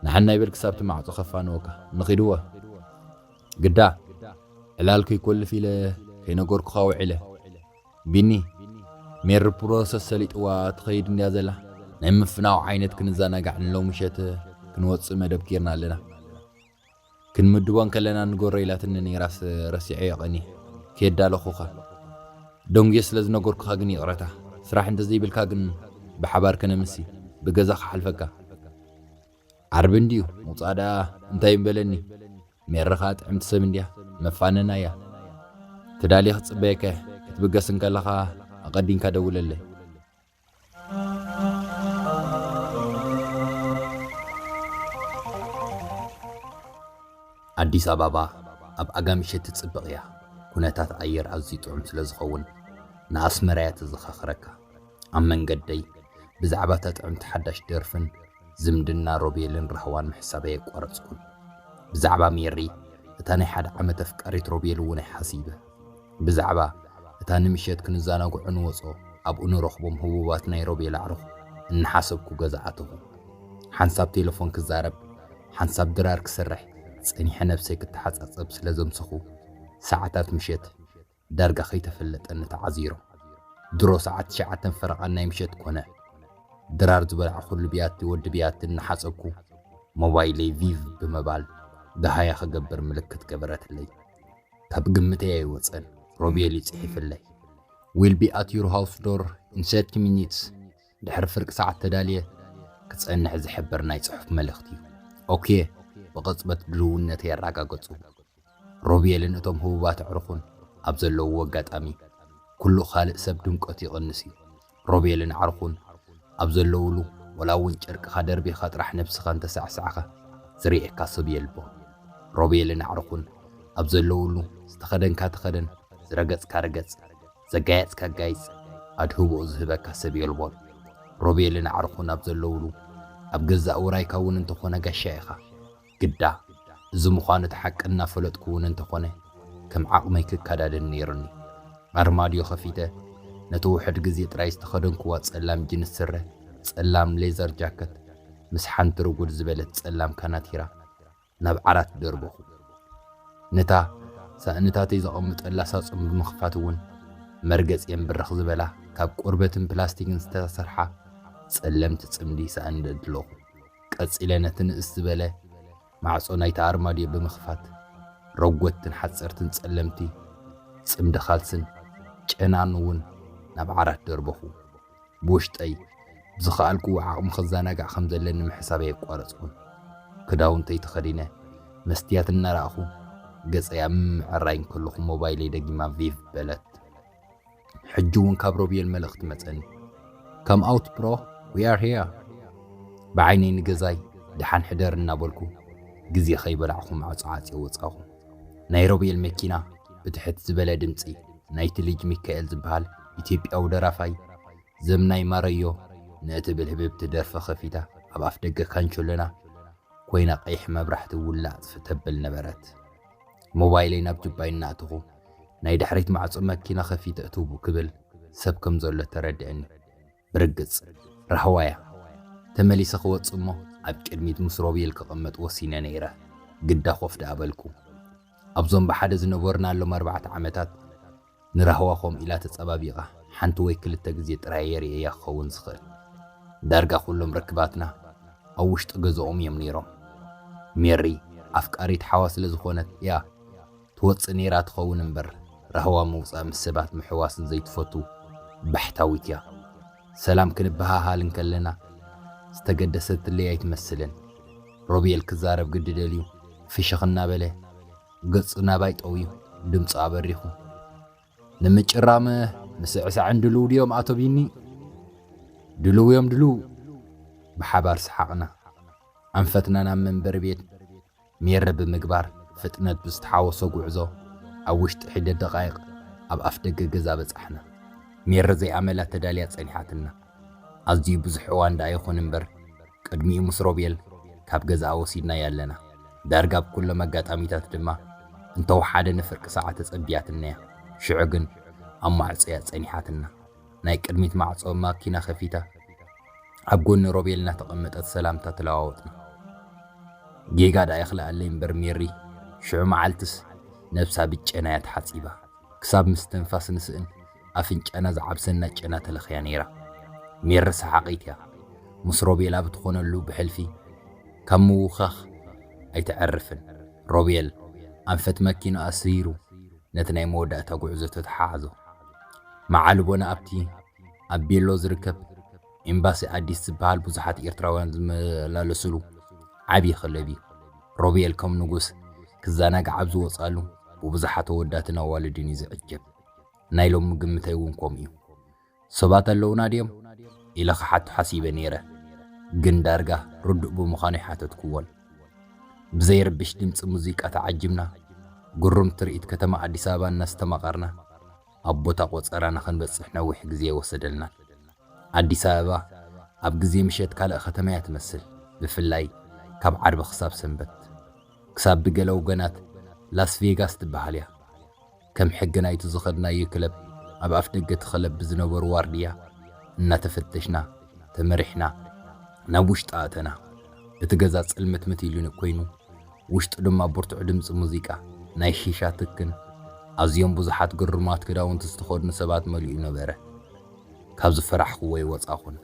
ንሓናይ በል ክሳብቲ ማዕጾ ከፋንወካ ንኺድ እወ ግዳ ዕላል ከይኮልፍ ኢለ ከይነገርኩኻ ውዒለ። ቢኒ ሜሪ ፕሮሰስ ሰሊጥዋ ትኸይድ እንድያ ዘላ ናይ ምፍናው ዓይነት ክንዘናጋዕ ንሎ ምሸት ክንወፅእ መደብ ጌርና ኣለና ክንምድቦ እንከለና ንገሮ ኢላትኒ ነይራስ ረሲዐዮ ቀኒ ከየዳለኹኻ ደንጉየ ስለ ዝነገርኩኻ ግን ይቕረታ ስራሕ እንተዘይብልካ ግን ብሓባር ከነምሲ ብገዛ ክሓልፈካ ዓርቢ እንድዩ ምውፃእ ደኣ እንታይ እምበለኒ ሜሪ ከኣ ጥዕምቲ ሰብ እንድያ መፋነና እያ ትዳሊ ክትጽበየካ እየ ክትብገስ እንከለኻ ኣቀዲንካ ደውለለይ። ኣዲስ ኣባባ ኣብ ኣጋምሸት ትጽብቕ እያ ኩነታት ኣየር ኣዝዩ ጥዑም ስለ ዝኸውን ንኣስመራ እያ ተዘኻኽረካ ኣብ መንገደይ ብዛዕባ እታ ጥዕምቲ ሓዳሽ ደርፍን ዝምድና ሮቤልን ራህዋን ምሕሳብ ኣየቋረጽኩን። ብዛዕባ ሜሪ፣ እታ ናይ ሓደ ዓመት ኣፍቃሪት ሮቤል እውን ኣይሓሲበ። ብዛዕባ እታ ንምሸት ክንዛናግዑ ንወጾ ኣብኡ ንረኽቦም ህቡባት ናይ ሮቤል ኣዕሩኽ እናሓሰብኩ ገዛ ኣተኹ። ሓንሳብ ቴለፎን ክዛረብ ሓንሳብ ድራር ክሰርሕ ጸኒሐ ነብሰይ ክተሓጻጸብ ስለ ዘምሰኹ ሰዓታት ምሸት ዳርጋ ከይተፈለጠኒ ተዓዚሩ። ድሮ ሰዓት ትሽዓተን ፈረቓን ናይ ምሸት ኮነ። ድራር ዝበላዕኹሉ ብያቲ ወዲ ብያቲ እናሓጸብኩ፣ ሞባይለይ ቪቭ ብምባል ደሃያ ክገብር ምልክት ገበረትለይ። ካብ ግምተይ ኣይወጸን፣ ሮቤል እዩ ጽሒፍለይ። ዊል ቢ ኣት ዩር ሃውስ ዶር ኢን ሰርቲ ሚኒትስ፣ ድሕሪ ፍርቂ ሰዓት ተዳልየ ክጸንሕ ዝሕብር ናይ ጽሑፍ መልእኽቲ። ኦኬ፣ ብቕጽበት ድልውነተይ ኣረጋገጹ። ሮብየልን እቶም ህቡባት ኣዕሩኹን ኣብ ዘለዉዎ ኣጋጣሚ፣ ኵሉ ኻልእ ሰብ ድምቀቱ ይቕንስ እዩ። ሮብየልን ኣዕሩኹን ኣብ ዘለዉሉ፣ ዋላ እውን ጨርቅኻ ደርቢኻ ጥራሕ ነብስኻ እንተ ሳዕሳዕካ ዝርእየካ ሰብ የልቦን። ሮብየልን ኣዕሩኹን ኣብ ዘለዉሉ፣ ዝተኸደንካ ተኸደን፣ ዝረገጽካ ርገጽ፣ ዘጋየጽካ ኣጋይጽ፣ ኣድህቦኡ ዝህበካ ሰብ የልቦን። ሮብየልን ኣዕሩኹን ኣብ ዘለዉሉ፣ ኣብ ገዛእ ውራይካ እውን እንተ ዀነ ጋሻ ኢኻ። ግዳ እዚ ምዃኑ እቲ ሓቂ እናፈለጥኩ እውን እንተኾነ ከም ዓቕመይ ክከዳደን ነይሩኒ። ኣርማድዮ ከፊተ ነቲ ውሑድ ግዜ ጥራይ ዝተኸደንኩዋ ጸላም ጂንስ ስረ፣ ጸላም ሌዘር ጃከት ምስ ሓንቲ ርጉድ ዝበለት ጸላም ካናቲራ ናብ ዓራት ደርበኹ። ነታ ሳእንታተይ ዘቐምጠላ ሳጹን ብምኽፋት እውን መርገጺኤን ብርኽ ዝበላ ካብ ቆርበትን ፕላስቲክን ዝተሰርሓ ጸለምቲ ጽምዲ ሳእኒ ደልደልኹ። ቀጺለ ነቲ ንእስ ዝበለ ማዕጾ ናይቲ ኣርማድዮ ብምኽፋት፣ ረጎድትን ሓጸርትን ጸለምቲ ጽምዲ ኻልስን ጨናን እውን ናብ ዓራት ደርበኹ። ብውሽጠይ፣ ብዝኸኣልክዎ ዓቕሚ ኽዘናጋዕ ከም ዘለኒ ምሕሳበይ ኣየቋረጽኩን። ክዳውንተይ ተኸዲነ፣ መስትያት እናረኣኹ ገጸይ ኣብ ምምዕራይ እንከለኹ ሞባይለይ ደጊማ ቪቭ በለት። ሕጂ እውን ካብ ሮቤል መልእኽቲ መጸኒ ካም ኣውት ብሮ ዊ ኣር ሄር ብዓይነይ ንገዛይ ደሓን ሕደር እናበልኩ ግዜ ከይበላዕኹ ማዕጾ ዓጽየ ወጻኹ ናይ ሮቤል መኪና ብትሕት ዝበለ ድምጺ ናይቲ ልጅ ሚካኤል ዝበሃል ኢትዮጵያዊ ደራፋይ ዘምናይ ማረዮ ንእትብል ህብብቲ ደርፊ ከፊታ ኣብ ኣፍደገ ካንቸሎና ኮይና ቀይሕ መብራህቲ ውላጽ ተብል ነበረት። ሞባይለይ ናብ ጁባይ እናእተኹ ናይ ድሕሪት ማዕጾ መኪና ከፊተ እትው ክብል ሰብ ከም ዘሎ ተረዲእኒ። ብርግጽ ራህዋ እያ። ተመሊሰ ክወጽእ እሞ ኣብ ቅድሚት ምስ ሮቤል ክቕመጥ ወሲነ ነይረ። ግዳ ኮፍ ደኣ በልኩ። ኣብዞም ብሓደ ዝነበርናሎም ኣርባዕተ ዓመታት ንራህዋ ከምኡ ኢላ ተጸባቢቓ ሓንቲ ወይ ክልተ ግዜ ጥራይ'የ ርእየያ ክኸውን ዝኽእል። ዳርጋ ኩሎም ርክባትና ኣብ ውሽጢ ገዛኦም እዮም ነይሮም። ሜሪ ኣፍቃሪት ሓዋ ስለ ዝኾነት እያ ትወጽእ ነይራ ትኸውን እምበር ራህዋ ምውጻእ ምስ ሰባት ምሕዋስን ዘይትፈቱ ባሕታዊት እያ። ሰላም ክንበሃሃል እንከለና ዝተገደሰትለይ ኣይትመስልን። ሮቤል ክዛረብ ግዲ ደልዩ ፍሽኽ እናበለ። ገጹ ናባይ ጠውዩ ድምጹ ኣበሪኹ ንምጭራም ምስዕሳዕን ድልው ድዮም ኣቶ ቢኒ ድልው እዮም ድልው ብሓባር ሰሓቕና ኣንፈትና ናብ መንበሪ ቤት ሜሪ ብምግባር ፍጥነት ብዝተሓወሶ ጉዕዞ ኣብ ውሽጢ ሒደት ደቓይቕ ኣብ ኣፍ ደገ ገዛ በጻሕና። ሜሪ ዘይኣመላ ተዳልያ ጸኒሓትና። ኣዝዩ ብዙሕ እዋን ደኣ ይኹን እምበር ቅድሚኡ ምስ ሮቤል ካብ ገዛኣ ወሲድናያ ኣለና። ዳርጋ ኣብ ኩሎም ኣጋጣሚታት ድማ እንተወሓደ ንፍርቂ ሰዓት ተጸብያትናያ። ሽዑ ግን ኣብ ማዕጾ'ያ ጸኒሓትና። ናይ ቅድሚት ማዕጾ ማኪና ከፊታ ኣብ ጎኒ ሮቤል እናተቐመጠት ሰላምታ ተለዋወጥና። ጌጋ ደኣ ይኽልኣለይ እምበር ሜሪ ሽዑ መዓልቲስ ነብሳ ብጨና'ያ ተሓጺባ ክሳብ ምስትንፋስ ንስእን ኣፍንጫና ዝዓብሰና ጨና ተለኽያ ነይራ። ሜሪ ሰሓቒት'ያ፣ ምስ ሮቤል ኣብ እትኾነሉ ብሕልፊ ካብ ምውኻኽ ኣይትዐርፍን። ሮቤል ኣንፈት መኪንኡ ኣስሪሩ ነቲ ናይ መወዳእታ ጉዕዞ ተተሓሓዞ። መዓልቦና ኣብቲ ኣብ ቤሎ ዝርከብ ኤምባሲ ኣዲስ ዝበሃል ብዙሓት ኤርትራውያን ዝመላለስሉ ዓብዪ ክለብ እዩ። ሮቤል ከም ንጉስ ክዘናጋዕ ኣብ ዝወጽኣሉ ብብዙሓት ኣወዳትን ኣዋልድን እዩ ዝዕጀብ። ናይ ሎሚ ግምተይ እውን ከምኡ እዩ። ሰባት ኣለዉና ድዮም? ኢለ ክሓቱ ሓሲበ ነይረ፣ ግን ዳርጋ ርዱእ ብምዃኑ ኣይሓተትኩዎን። ብዘይርብሽ ድምጺ ሙዚቃ ተዓጂብና፣ ግሩም ትርኢት ከተማ ኣዲስ ኣበባ እናስተማቐርና ኣብ ቦታ ቆጸራና ክንበጽሕ ነዊሕ ግዜ ኣይወሰደልናን። ኣዲስ ኣበባ ኣብ ግዜ ምሸት ካልእ ከተማ እያ ትመስል፣ ብፍላይ ካብ ዓርቢ ክሳብ ሰንበት። ክሳብ ብገለ ወገናት ላስ ቬጋስ ትበሃል እያ። ከም ሕጊ ናይቲ ዝኸድናዮ ክለብ ኣብ ኣፍደገ እቲ ክለብ ብዝነበሩ ዋርድያ እናተፈተሽና ተመሪሕና ናብ ውሽጢ ኣእተና። እቲ ገዛ ጽልምትምት ኢሉ ኮይኑ፣ ውሽጡ ድማ ብርቱዕ ድምጺ ሙዚቃ፣ ናይ ሺሻ ትክን ኣዝዮም ብዙሓት ግርማት ክዳውንቲ ዝተኸድኑ ሰባት መሊኡ ነበረ። ካብ ዝፈራሕኩዎ ኣይወጻኹን።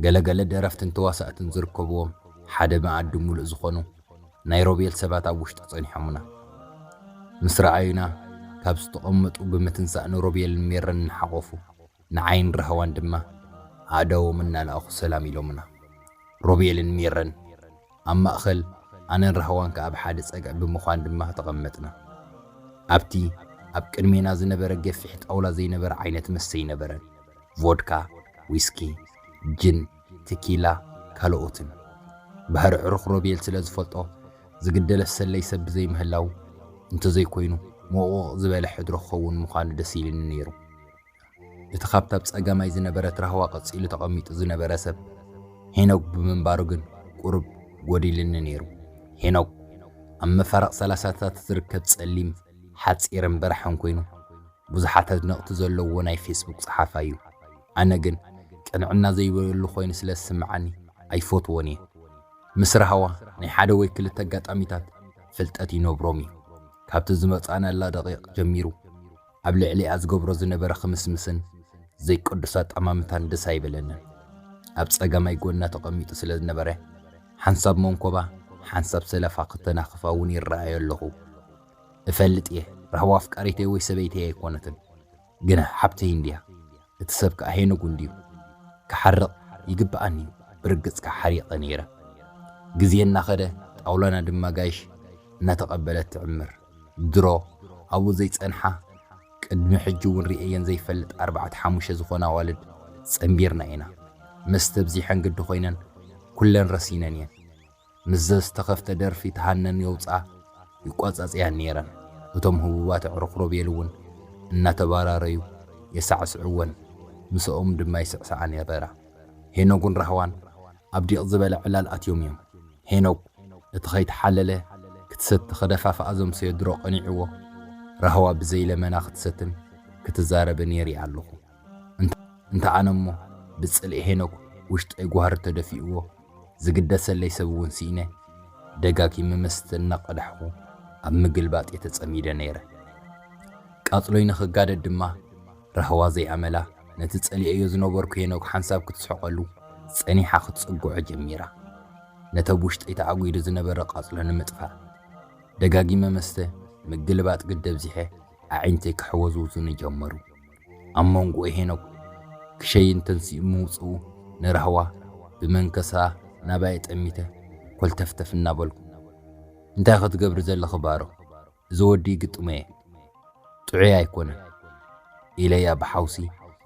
ገለ ገለ ደረፍትን ተዋሳእትን ዝርከቡዎም ሓደ መኣዲ ምሉእ ዝኾኑ፣ ናይ ሮቤል ሰባት ኣብ ውሽጢ ጸኒሖሙና። ምስ ረኣዩና፣ ካብ ዝተቐመጡ ብምትንሳእ ንሮቤልን ሜሮን እናሓቖፉ፣ ንዓይን ራህዋን ድማ ኣእዳዎም እናለኣኹ ሰላም ኢሎሙና። ሮቤልን ሜሮን ኣብ ማእከል፣ ኣነን ራህዋን ከኣ ኣብ ሓደ ጸግዒ ብምዃን ድማ ተቐመጥና። ኣብቲ ኣብ ቅድሜና ዝነበረ ገፊሕ ጣውላ ዘይነበረ ዓይነት መስተ ኣይነበረን፣ ቮድካ፣ ዊስኪ፣ ጅን፣ ትኪላ፣ ካልኦትን። ባህሪ ኣዕሩኽ ሮቤል ስለ ዝፈልጦ፣ ዝግደለስ ሰለይ ሰብ ብዘይምህላዉ፣ እንተዘይኮይኑ ሞቕሞቕ ዝበለ ሕድሮ ክኸውን ምዃኑ ደስ ኢሉኒ ነይሩ። እቲ ካብታ ብጸጋማይ ዝነበረት ራህዋ ቀጺሉ ተቐሚጡ ዝነበረ ሰብ፣ ሄኖግ ብምንባሩ ግን ቁሩብ ጎዲሉኒ ነይሩ። ሄኖግ፣ ኣብ መፋርቕ ሰላሳታት ዝርከብ ጸሊም፣ ሓጺርን በራሕን ኮይኑ፣ ብዙሓት ኣድነቕቲ ዘለዉዎ ናይ ፌስቡክ ጸሓፋይ እዩ። ኣነ ግን ቅንዕና ዘይበሉ ኮይኑ ስለ ዝስምዓኒ ኣይፈትዎን እየ። ምስ ራህዋ ናይ ሓደ ወይ ክልተ ኣጋጣሚታት ፍልጠት ይነብሮም እዩ። ካብቲ ዝመጻእናላ ደቒቕ ጀሚሩ ኣብ ልዕሊኣ ዝገብሮ ዝነበረ ኽምስምስን ዘይቅዱስ ኣጠማምታን ደስ ኣይበለንን። ኣብ ጸጋማይ ጎና ተቐሚጡ ስለ ዝነበረ ሓንሳብ መንኮባ ሓንሳብ ሰለፋ ክተናኽፋ እውን ይረኣዮ ኣለኹ። እፈልጥ እየ ራህዋ ኣፍቃሪተይ ወይ ሰበይተይ ኣይኮነትን። ግና ሓብተይ እንድያ እቲ ሰብ ከኣ ሄኖግ እንድዩ ክሓርቕ ይግብኣኒ እዩ ብርግጽ ከኣ ሓሪቐ ነይረ ግዜ እናኸደ ጣውላና ድማ ጋይሽ እናተቐበለት ትዕምር ድሮ ኣብኡ ዘይጸንሓ ቅድሚ ሕጂ እውን ርእየየን ዘይፈልጥ ኣርባዕተ ሓሙሽተ ዝኾና ኣዋልድ ጸንቢርና ኢና መስተ ኣብዚሐን ግዲ ኮይነን ኩለን ረሲነን እየን ምስ ዘዝተኸፍተ ደርፊ ትሃነን የውጽኣ ይቆጸጽያን ነይረን። እቶም ህቡባት ኣዕሩኽ ሮቤል እውን እናተባራረዩ የሳዕስዕወን፣ ምስኦም ድማ ይስዕስዓ ነበራ። ሄኖግን ራህዋን ኣብ ዲቕ ዝበለ ዕላል ኣትዮም እዮም። ሄኖግ እቲ ከይተሓለለ ክትሰቲ ከደፋፍኣ ዘምሰዮ ድሮ ቀኒዕዎ፣ ራህዋ ብዘይለመና ክትሰትን ክትዛረብን የሪኣ ኣለኹ። እንተ ኣነ እሞ ብጽልኢ ሄኖክ ውሽጠይ ጓህሪ ተደፊኡዎ ዝግደሰለይ ሰብ እውን ስኢነ ደጋጊመ መስተ እናቐዳሕኹ ኣብ ምግልባጥ እየ ተጸሚደ ነይረ። ቃጽሎይ ንኽጋደድ ድማ ራህዋ ዘይኣመላ ነቲ ጸሊኤዮ ዝነበርኩ ሄኖክ ሓንሳብ ክትስሕቐሉ ጸኒሓ ክትጽግዖ ጀሚራ። ነቲ ኣብ ውሽጠይ ተኣጒዱ ዝነበረ ቃጽሎ ንምጥፋእ ደጋጊመ መስተ ምግልባጥ ግዲ ኣብዚሐ ኣዒንተይ ክሕወዝውዙኒ ጀመሩ። ኣብ መንጎ ሄኖክ ክሸይን ተንሲኡ ምውጽኡ ንራህዋ ብመንከሳ ናባየ ጠሚተ ኮልተፍተፍ እናበልኩ፣ እንታይ ክትገብሪ ዘለኺ ባሮ፣ እዚ ወዲ ይግጥሞ'የ፣ ጥዑይ ኣይኮነን፣ ኢለያ ብሓውሲ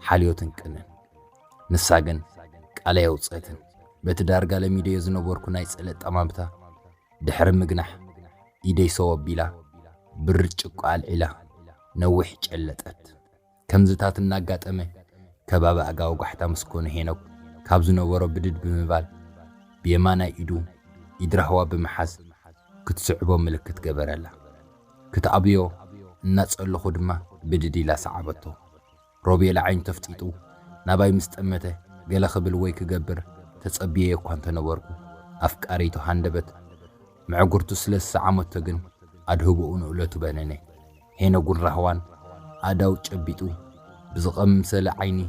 ሓልዮትን ቅንን። ንሳ ግን ቃል ኣየውጽእትን። በቲ ዳርጋ ለሚደዮ ዝነበርኩ ናይ ጽልእ ጠማምታ ድሕሪ ምግናሕ ኢደይ ሰው ኣቢላ ብርጭቆ ኣልዒላ ነዊሕ ጨለጠት። ከምዚታት እናጋጠመ ከባቢ ኣጋው ጓሕታ ምስ ኮነ ሄኖክ ካብ ዝነበሮ ብድድ ብምባል ብየማናይ ኢዱ ኢድ ራህዋ ብምሓዝ ክትስዕቦ ምልክት ገበረላ። ክትኣብዮ እናጸለኹ ድማ ብድድ ኢላ ሰዓበቶ። ሮቤል ኣዒንቱ ኣፍጢጡ ናባይ ምስ ጠመተ ገለ ክብል ወይ ክገብር ተጸብየዮ እኳ እንተ ነበርኩ፣ ኣፍቃሪቱ ሃንደበት ምዕጉርቱ ስለ ዝሰዓመቶ ግን ኣድህቦኡ ንእለቱ በነነ። ሄኖግን ራህዋን ኣእዳው ጨቢጡ ብዝቐምሰለ ዓይኒ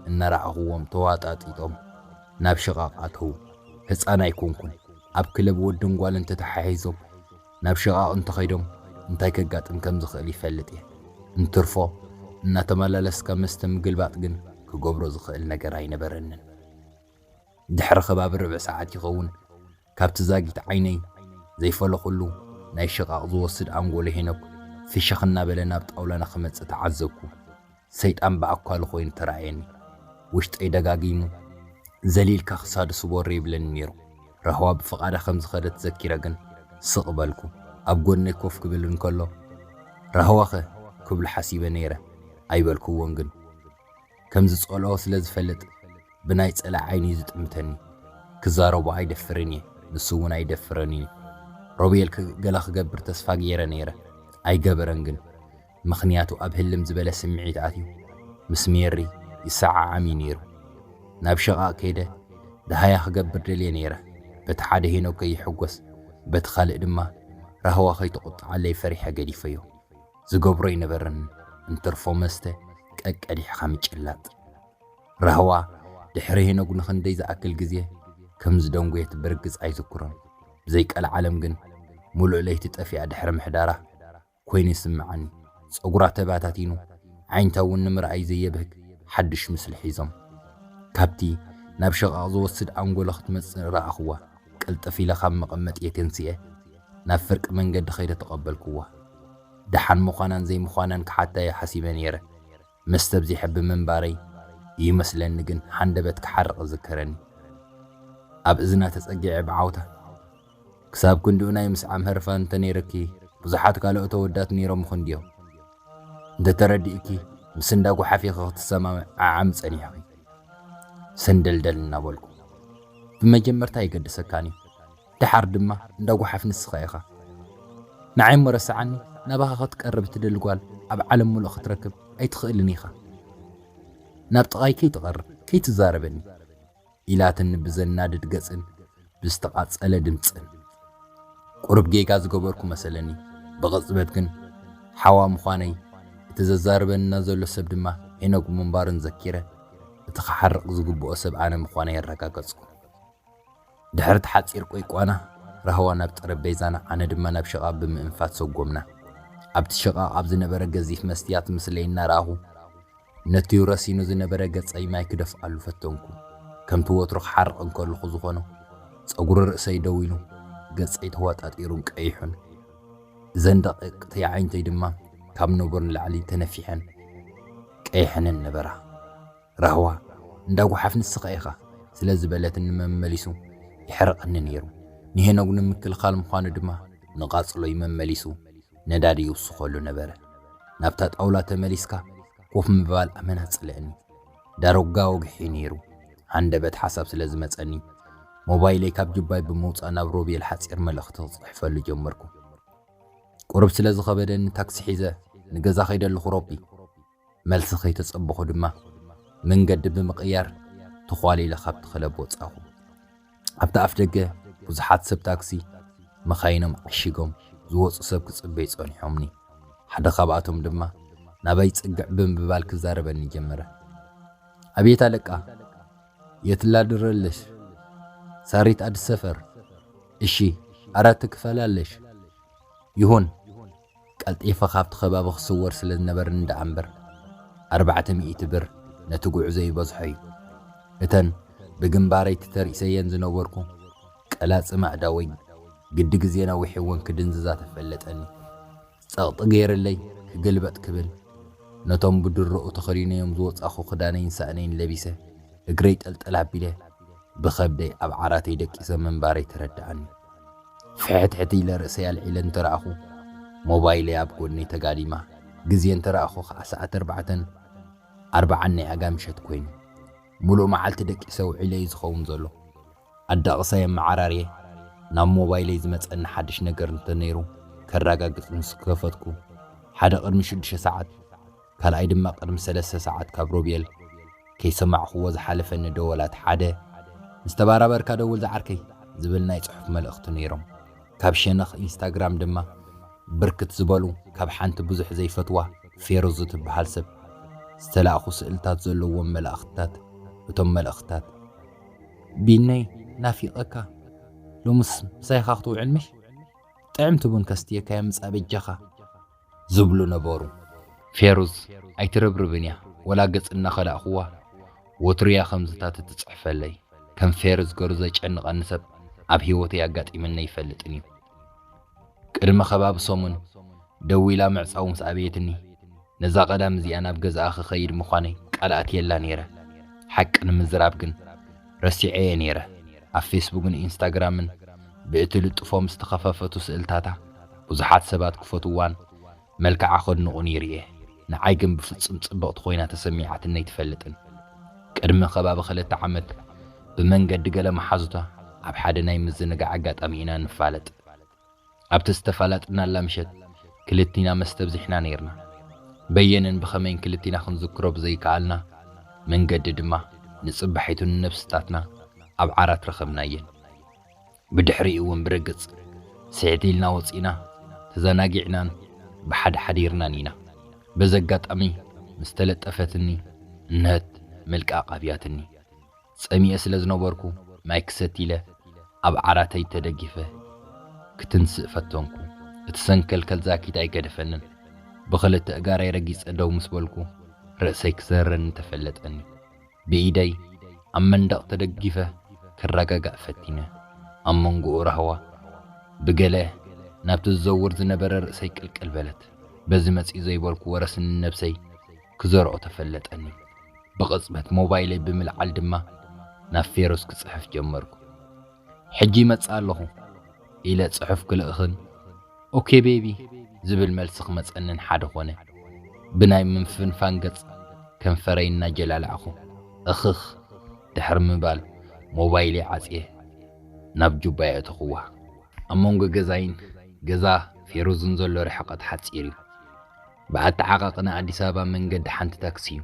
እናረኣኹዎም ተዋጣጢጦም ናብ ሽቓቕ ኣተዉ። ህጻን ኣይኮንኩን፣ ኣብ ክለብ ወድን ጓልን ተተሓሒዞም፣ ናብ ሽቓቕ እንተኸይዶም እንታይ ከጋጥም ከም ዝኽእል ይፈልጥ እየ። እንትርፎ እናተመላለስካ መስተ ምግልባጥ ግን ክገብሮ ዝኽእል ነገር ኣይነበረንን። ድሕሪ ከባቢ ርብዒ ሰዓት ይኸውን ካብቲ ዛጊት ዓይነይ ዘይፈለኹሉ ናይ ሽቓቕ ዝወስድ ኣንጎሎ ሄኖክ ፍሽኽ እናበለ ናብ ጣውላና ክመጽእ ተዓዘብኩ። ሰይጣን ብኣኳሉ ኮይኑ ተራእየኒ። ውሽጠይ ደጋጊሙ፣ ዘሊልካ ክሳዱ ስበሮ ይብለኒ ነይሩ። ራህዋ ብፍቓዳ ከም ዝኸደት ዘኪረ ግን ስቕ በልኩ። ኣብ ጎድነይ ኮፍ ክብል እንከሎ፣ ራህዋኸ? ክብሎ ሓሲበ ነይረ። ኣይበልኩዎን ግን። ከም ዝጸልኦ ስለ ዝፈልጥ ብናይ ጸላኢ ዓይኒ'ዩ ዝጥምተኒ። ክዛረቦ ኣይደፍርን እየ፣ ንሱ'ውን ኣይደፍረን'ዩ። ሮቤል ገለ ክገብር ተስፋ ገይረ ነይረ። ኣይገበረን ግን። ምኽንያቱ ኣብ ህልም ዝበለ ስምዒት ኣትዩ ምስ ሜሪ ይሰዓዓም እዩ ነይሩ። ናብ ሽቓቕ ከይደ ደሃያ ክገብር ደልየ ነይረ፣ በቲ ሓደ ሄኖክ ከይሕጎስ በቲ ካልእ ድማ ራህዋ ከይትቑጠዓለይ ፈሪሐ ገዲፈዮ። ዝገብሮ ኣይነበረንን እንትርፎ መስተ ቀቀዲሕኻ ምጭላጥ። ራህዋ ድሕሪ ሄኖክ ንኽንደይ ዝኣክል ግዜ ከም ዝደንጎየት ብርግጽ ኣይዝክሮን፣ ብዘይ ቀልዓለም ግን ምሉእ ለይቲ ጠፊኣ ድሕሪ ምሕዳራ፣ ኮይኑ ይስምዓኒ። ጸጉራ ተባታቲኑ፣ ኣዒንታ እውን ንምርኣይ ዘየብህግ ሓድሽ ምስሊ ሒዞም። ካብቲ ናብ ሽቓቕ ዝወስድ ኣንጎሎ ክትመጽእ ረኣኹዋ። ቅልጥፍ ኢለ ካብ መቐመጥየይ ተንሲኤ ናብ ፍርቂ መንገዲ ከይደ ተቐበልኩዋ። ደሓን ምዃናን ዘይምዃናን ክሓታዮ ሓሲበ ነይረ። መስተ ኣብዚሐ ብምንባረይ እዩ መስለኒ ግን ሃንደበት ክሓርቕ እዝከረኒ። ኣብ እዝና ተጸጊዐ ብዓውታ። ክሳብ ክንድኡ ናይ ምስዓም ህርፋን እንተ ነይርኪ ብዙሓት ካልኦት ኣወዳት ነይሮምኺ እንድዮም። እንተ ተረዲእኪ ምስ እንዳ ጓሓፊኺ ክትሰማምዓዓሚ ጸኒሕኺ። ሰንደልደል እናበልኩ፣ ብመጀመርታ ኣይገድሰካን እዩ፣ ደሓር ድማ እንዳ ጓሓፍ ንስኻ ኢኻ። ንዓይ እሞ ረስዓኒ፣ ናባኻ ክትቀርብ እትደሊ ጓል ኣብ ዓለም ምሉእ ክትረክብ ኣይትኽእልን ኢኻ። ናብ ጥቓይ ከይትቐርብ፣ ከይትዛረበኒ። ኢላትኒ ብዘናድድ ገጽን ብዝተቓጸለ ድምጽን። ቁሩብ ጌጋ ዝገበርኩ መሰለኒ፣ ብቕጽበት ግን ሓዋ ምዃነይ፣ እቲ ዘዛርበኒ ዘሎ ሰብ ድማ ሄኖግ ምንባሩን ዘኪረ፣ እቲ ክሓርቕ ዝግብኦ ሰብ ኣነ ምዃነይ ኣረጋገጽኩ። ድሕሪ'ቲ ሓጺር ቈይቋና፣ ራህዋ ናብ ጠረጴዛና ኣነ ድማ ናብ ሽቓቕ ብምእንፋት ሰጐምና። ኣብቲ ሽቓቕ ኣብ ዝነበረ ገዚፍ መስትያት ምስለይ እናረኣኹ። ነቲ ረሲኑ ዝነበረ ገጸይ ማይ ክደፍኣሉ ፈተንኩ። ከምቲ ወትሩ ክሓርቕ እንከለኹ ዝኾኖ፣ ጸጉሪ ርእሰይ ደው ኢሉ፣ ገጸይ ተዋጣጢሩን ቀይሑን። እዘን ደቒቕቲ ኣዒንተይ ድማ ካብ ነቡር ንላዕሊ ተነፊሐን ቀይሐንን ነበራ። ራህዋ፣ እንዳ ጓሓፍ ንስኻ ኢኻ! ስለ ዝበለትኒ መመሊሱ የሕርቐኒ ነይሩ። ንሄኖግ ንምክልኻል ምዃኑ ድማ ንቓጽሎይ መመሊሱ ነዳዲ ይውስኸሉ ነበረ። ናብታ ጣውላ ተመሊስካ ኮፍ ምባል ኣመና ጸልእኒ። ዳርጋ ወግሒ'ዩ ነይሩ። ሃንደበት ሓሳብ ስለ ዝመጸኒ፣ ሞባይለይ ካብ ጁባይ ብምውጻእ ናብ ሮቤል ሓጺር መልእኽቲ ክጽሕፈሉ ጀመርኩ። ቁሩብ ስለ ዝኸበደኒ ታክሲ ሒዘ ንገዛ ከይደ ኣለኹ ሮቢ። መልሲ ከይተጸበኹ ድማ መንገዲ ብምቕያር ተዃሊለ ካብቲ ክለብ ወጻኹ። ኣብቲ ኣፍደገ ብዙሓት ሰብ ታክሲ መካይኖም ዓሺጎም ዝወጹ ሰብ ክጽበዩ ጸኒሖምኒ። ሓደ ካብኣቶም ድማ ናባይ ጽግዕ ብምባል ክዛረበኒ ጀመረ። ኣቤት ኣለቃ የት ላድረለሽ ሳሪት ኣድስ ሰፈር እሺ ኣራት ክፈላለሽ ይሁን ቀልጢፈ ካብቲ ከባቢ ክስወር ስለ ዝነበርኒ ደኣ እምበር፣ ኣርባዕተ ሚእቲ ብር ነቲ ጉዕዞ ይበዝሖ እዩ። እተን ብግንባረይ ተተርኢሰየን ዝነበርኩ ቀላጽም ኣእዳወይ ግዲ ግዜ ነዊሕወን ክድንዝዛ ተፈለጠኒ። ጸቕጢ ገይረለይ ክግልበጥ ክብል፣ ነቶም ብድሮኡ ተኸዲነዮም ዝወጻኹ ክዳነይን ሳእነይን ለቢሰ እግረይ ጠልጠል ኣቢለ ብኸብደይ ኣብ ዓራተይ ደቂሰ ምንባረይ ተረደኣኒ። ፍሕትሕት ኢለ ርእሰይ ኣልዒለ እንተ ረኣኹ፣ ሞባይለይ ኣብ ጎድነይ ተጋዲማ፣ ግዜ እንተ ረኣኹ ኸኣ ሰዓት ኣርባዕተን ኣርብዓን ናይ ኣጋ ምሸት ኰይኑ። ምሉእ መዓልቲ ደቂሰ ውዒለ እዩ ዝኸውን ዘሎ። ኣዳቕሳይ ኣመዓራርየ ናብ ሞባይለይ ዝመጸኒ ሓድሽ ነገር እንተ ነይሩ ከራጋግጽ ምስ ከፈትኩ፣ ሓደ ቅድሚ ሽዱሽተ ሰዓት፣ ካልኣይ ድማ ቅድሚ ሰለስተ ሰዓት ካብ ሮቤል ከይሰማዕኩዎ ዝሓለፈኒ ደወላት ሓደ ምስ ተባራበርካ ደውል ዝዓርከይ ዝብል ናይ ጽሑፍ መልእኽቲ ነይሮም። ካብ ሸነኽ ኢንስታግራም ድማ ብርክት ዝበሉ ካብ ሓንቲ ብዙሕ ዘይፈትዋ ፌሩዝ እትበሃል ሰብ ዝተላእኩ ስእልታት ዘለዎም መላእኽትታት እቶም መልእኽትታት ቢነይ ናፊቀካ ሎምስ ምሳይካ ክትውዕል ምሽ ጥዕምቲ ቡን ከስትየካ የምጽኣ በጃካ። ዝብሉ ነበሩ። ፌሩዝ ኣይትርብርብን እያ፣ ወላ ገጽ እናኸላእኩዋ ወትሩ እያ ከምዝታት እትጽሕፈለይ። ከም ፌሩዝ ገሩ ዘጨንቐኒ ሰብ ኣብ ህይወተይ ኣጋጢምኒ ኣይፈልጥን እዩ። ቅድሚ ከባቢ ሰሙን ደዊላ ምዕጻዉ ምስ ኣበየትኒ፣ ነዛ ቀዳም እዚኣ ናብ ገዝኣ ክኸይድ ምዃነይ ቃል ኣትየላ ነይረ። ሓቂ ንምዝራብ ግን፣ ረሲዐ'የ ነይረ። ኣብ ፌስቡግን ኢንስታግራምን ብእትልጥፎም ዝተኸፈፈቱ ስእልታታ ብዙሓት ሰባት ክፈትውዋን መልክዓ ከድንቑን ይርኤ። ንዓይ ግን ብፍጹም ጽብቕቲ ኮይና ተሰሚዓትኒ ኣይትፈልጥን። ቅድሚ ከባቢ ክልተ ዓመት ብመንገዲ ገለ መሓዙታ ኣብ ሓደ ናይ ምዝንጋዕ ኣጋጣሚ ኢና ንፋለጥ። ኣብቲ ዝተፋላጥናላ ምሸት ክልቲና መስተ ኣብዚሕና ነይርና። በየነን ብኸመይን ክልቲና ክንዝክሮ ብዘይከኣልና መንገዲ ድማ ንጽባሒቱ ንነብስታትና ኣብ ዓራት ረኸብናየን። ብድሕሪኡ'ውን ብርግጽ ስሕት ኢልና ወጺእና ተዘናጊዕናን ብሓደ ሓዲርናን ኢና። በዚ ኣጋጣሚ ምስ ተለጠፈትኒ እንሀት መልቃቕ ኣብያትኒ። ጸሚኤ ስለ ዝነበርኩ ማይ ክሰቲ ኢለ ኣብ ዓራተይ ተደጊፈ ክትንስእ ፈተንኩ። እቲ ሰንከልከል ዛኪት ኣይገደፈንን። ብኽልተ እጋረይ ረጊጸ ደው ምስ በልኩ ርእሰይ ክዘርረኒ ተፈለጠኒ። ብኢደይ ኣብ መንደቕ ተደጊፈ ክረጋጋእ ፈቲነ። ኣብ መንጎኡ ራህዋ ብገለ ናብቲ ዝዘውር ዝነበረ ርእሰይ ቅልቅል በለት። በዚ መጺኡ ዘይበልኩ ወረስኒ ንነብሰይ ክዘርኦ ተፈለጠኒ። ብቕጽበት ሞባይለይ ብምልዓል ድማ ናብ ፌሮስ ክጽሕፍ ጀመርኩ። ሕጂ ይመጽእ ኣለኹ ኢለ ጽሑፍ ክልእኽን ኦኬ ቤቢ ዝብል መልሲ ክመጸንን ሓደ ኮነ። ብናይ ምፍንፋን ገጽ ከንፈረይ እናጀላላዕኩ እኽኽ ድሕሪ ምባል ሞባይለይ ዓጽየ ናብ ጁባይ ኣእተኹዋ። ኣብ መንጎ ገዛይን ገዛ ፌሮዝን ዘሎ ርሕቐት ሓጺር እዩ። ብኣተዓቓቕ ን ኣዲስ ኣበባ መንገዲ ሓንቲ ታክሲ እዩ።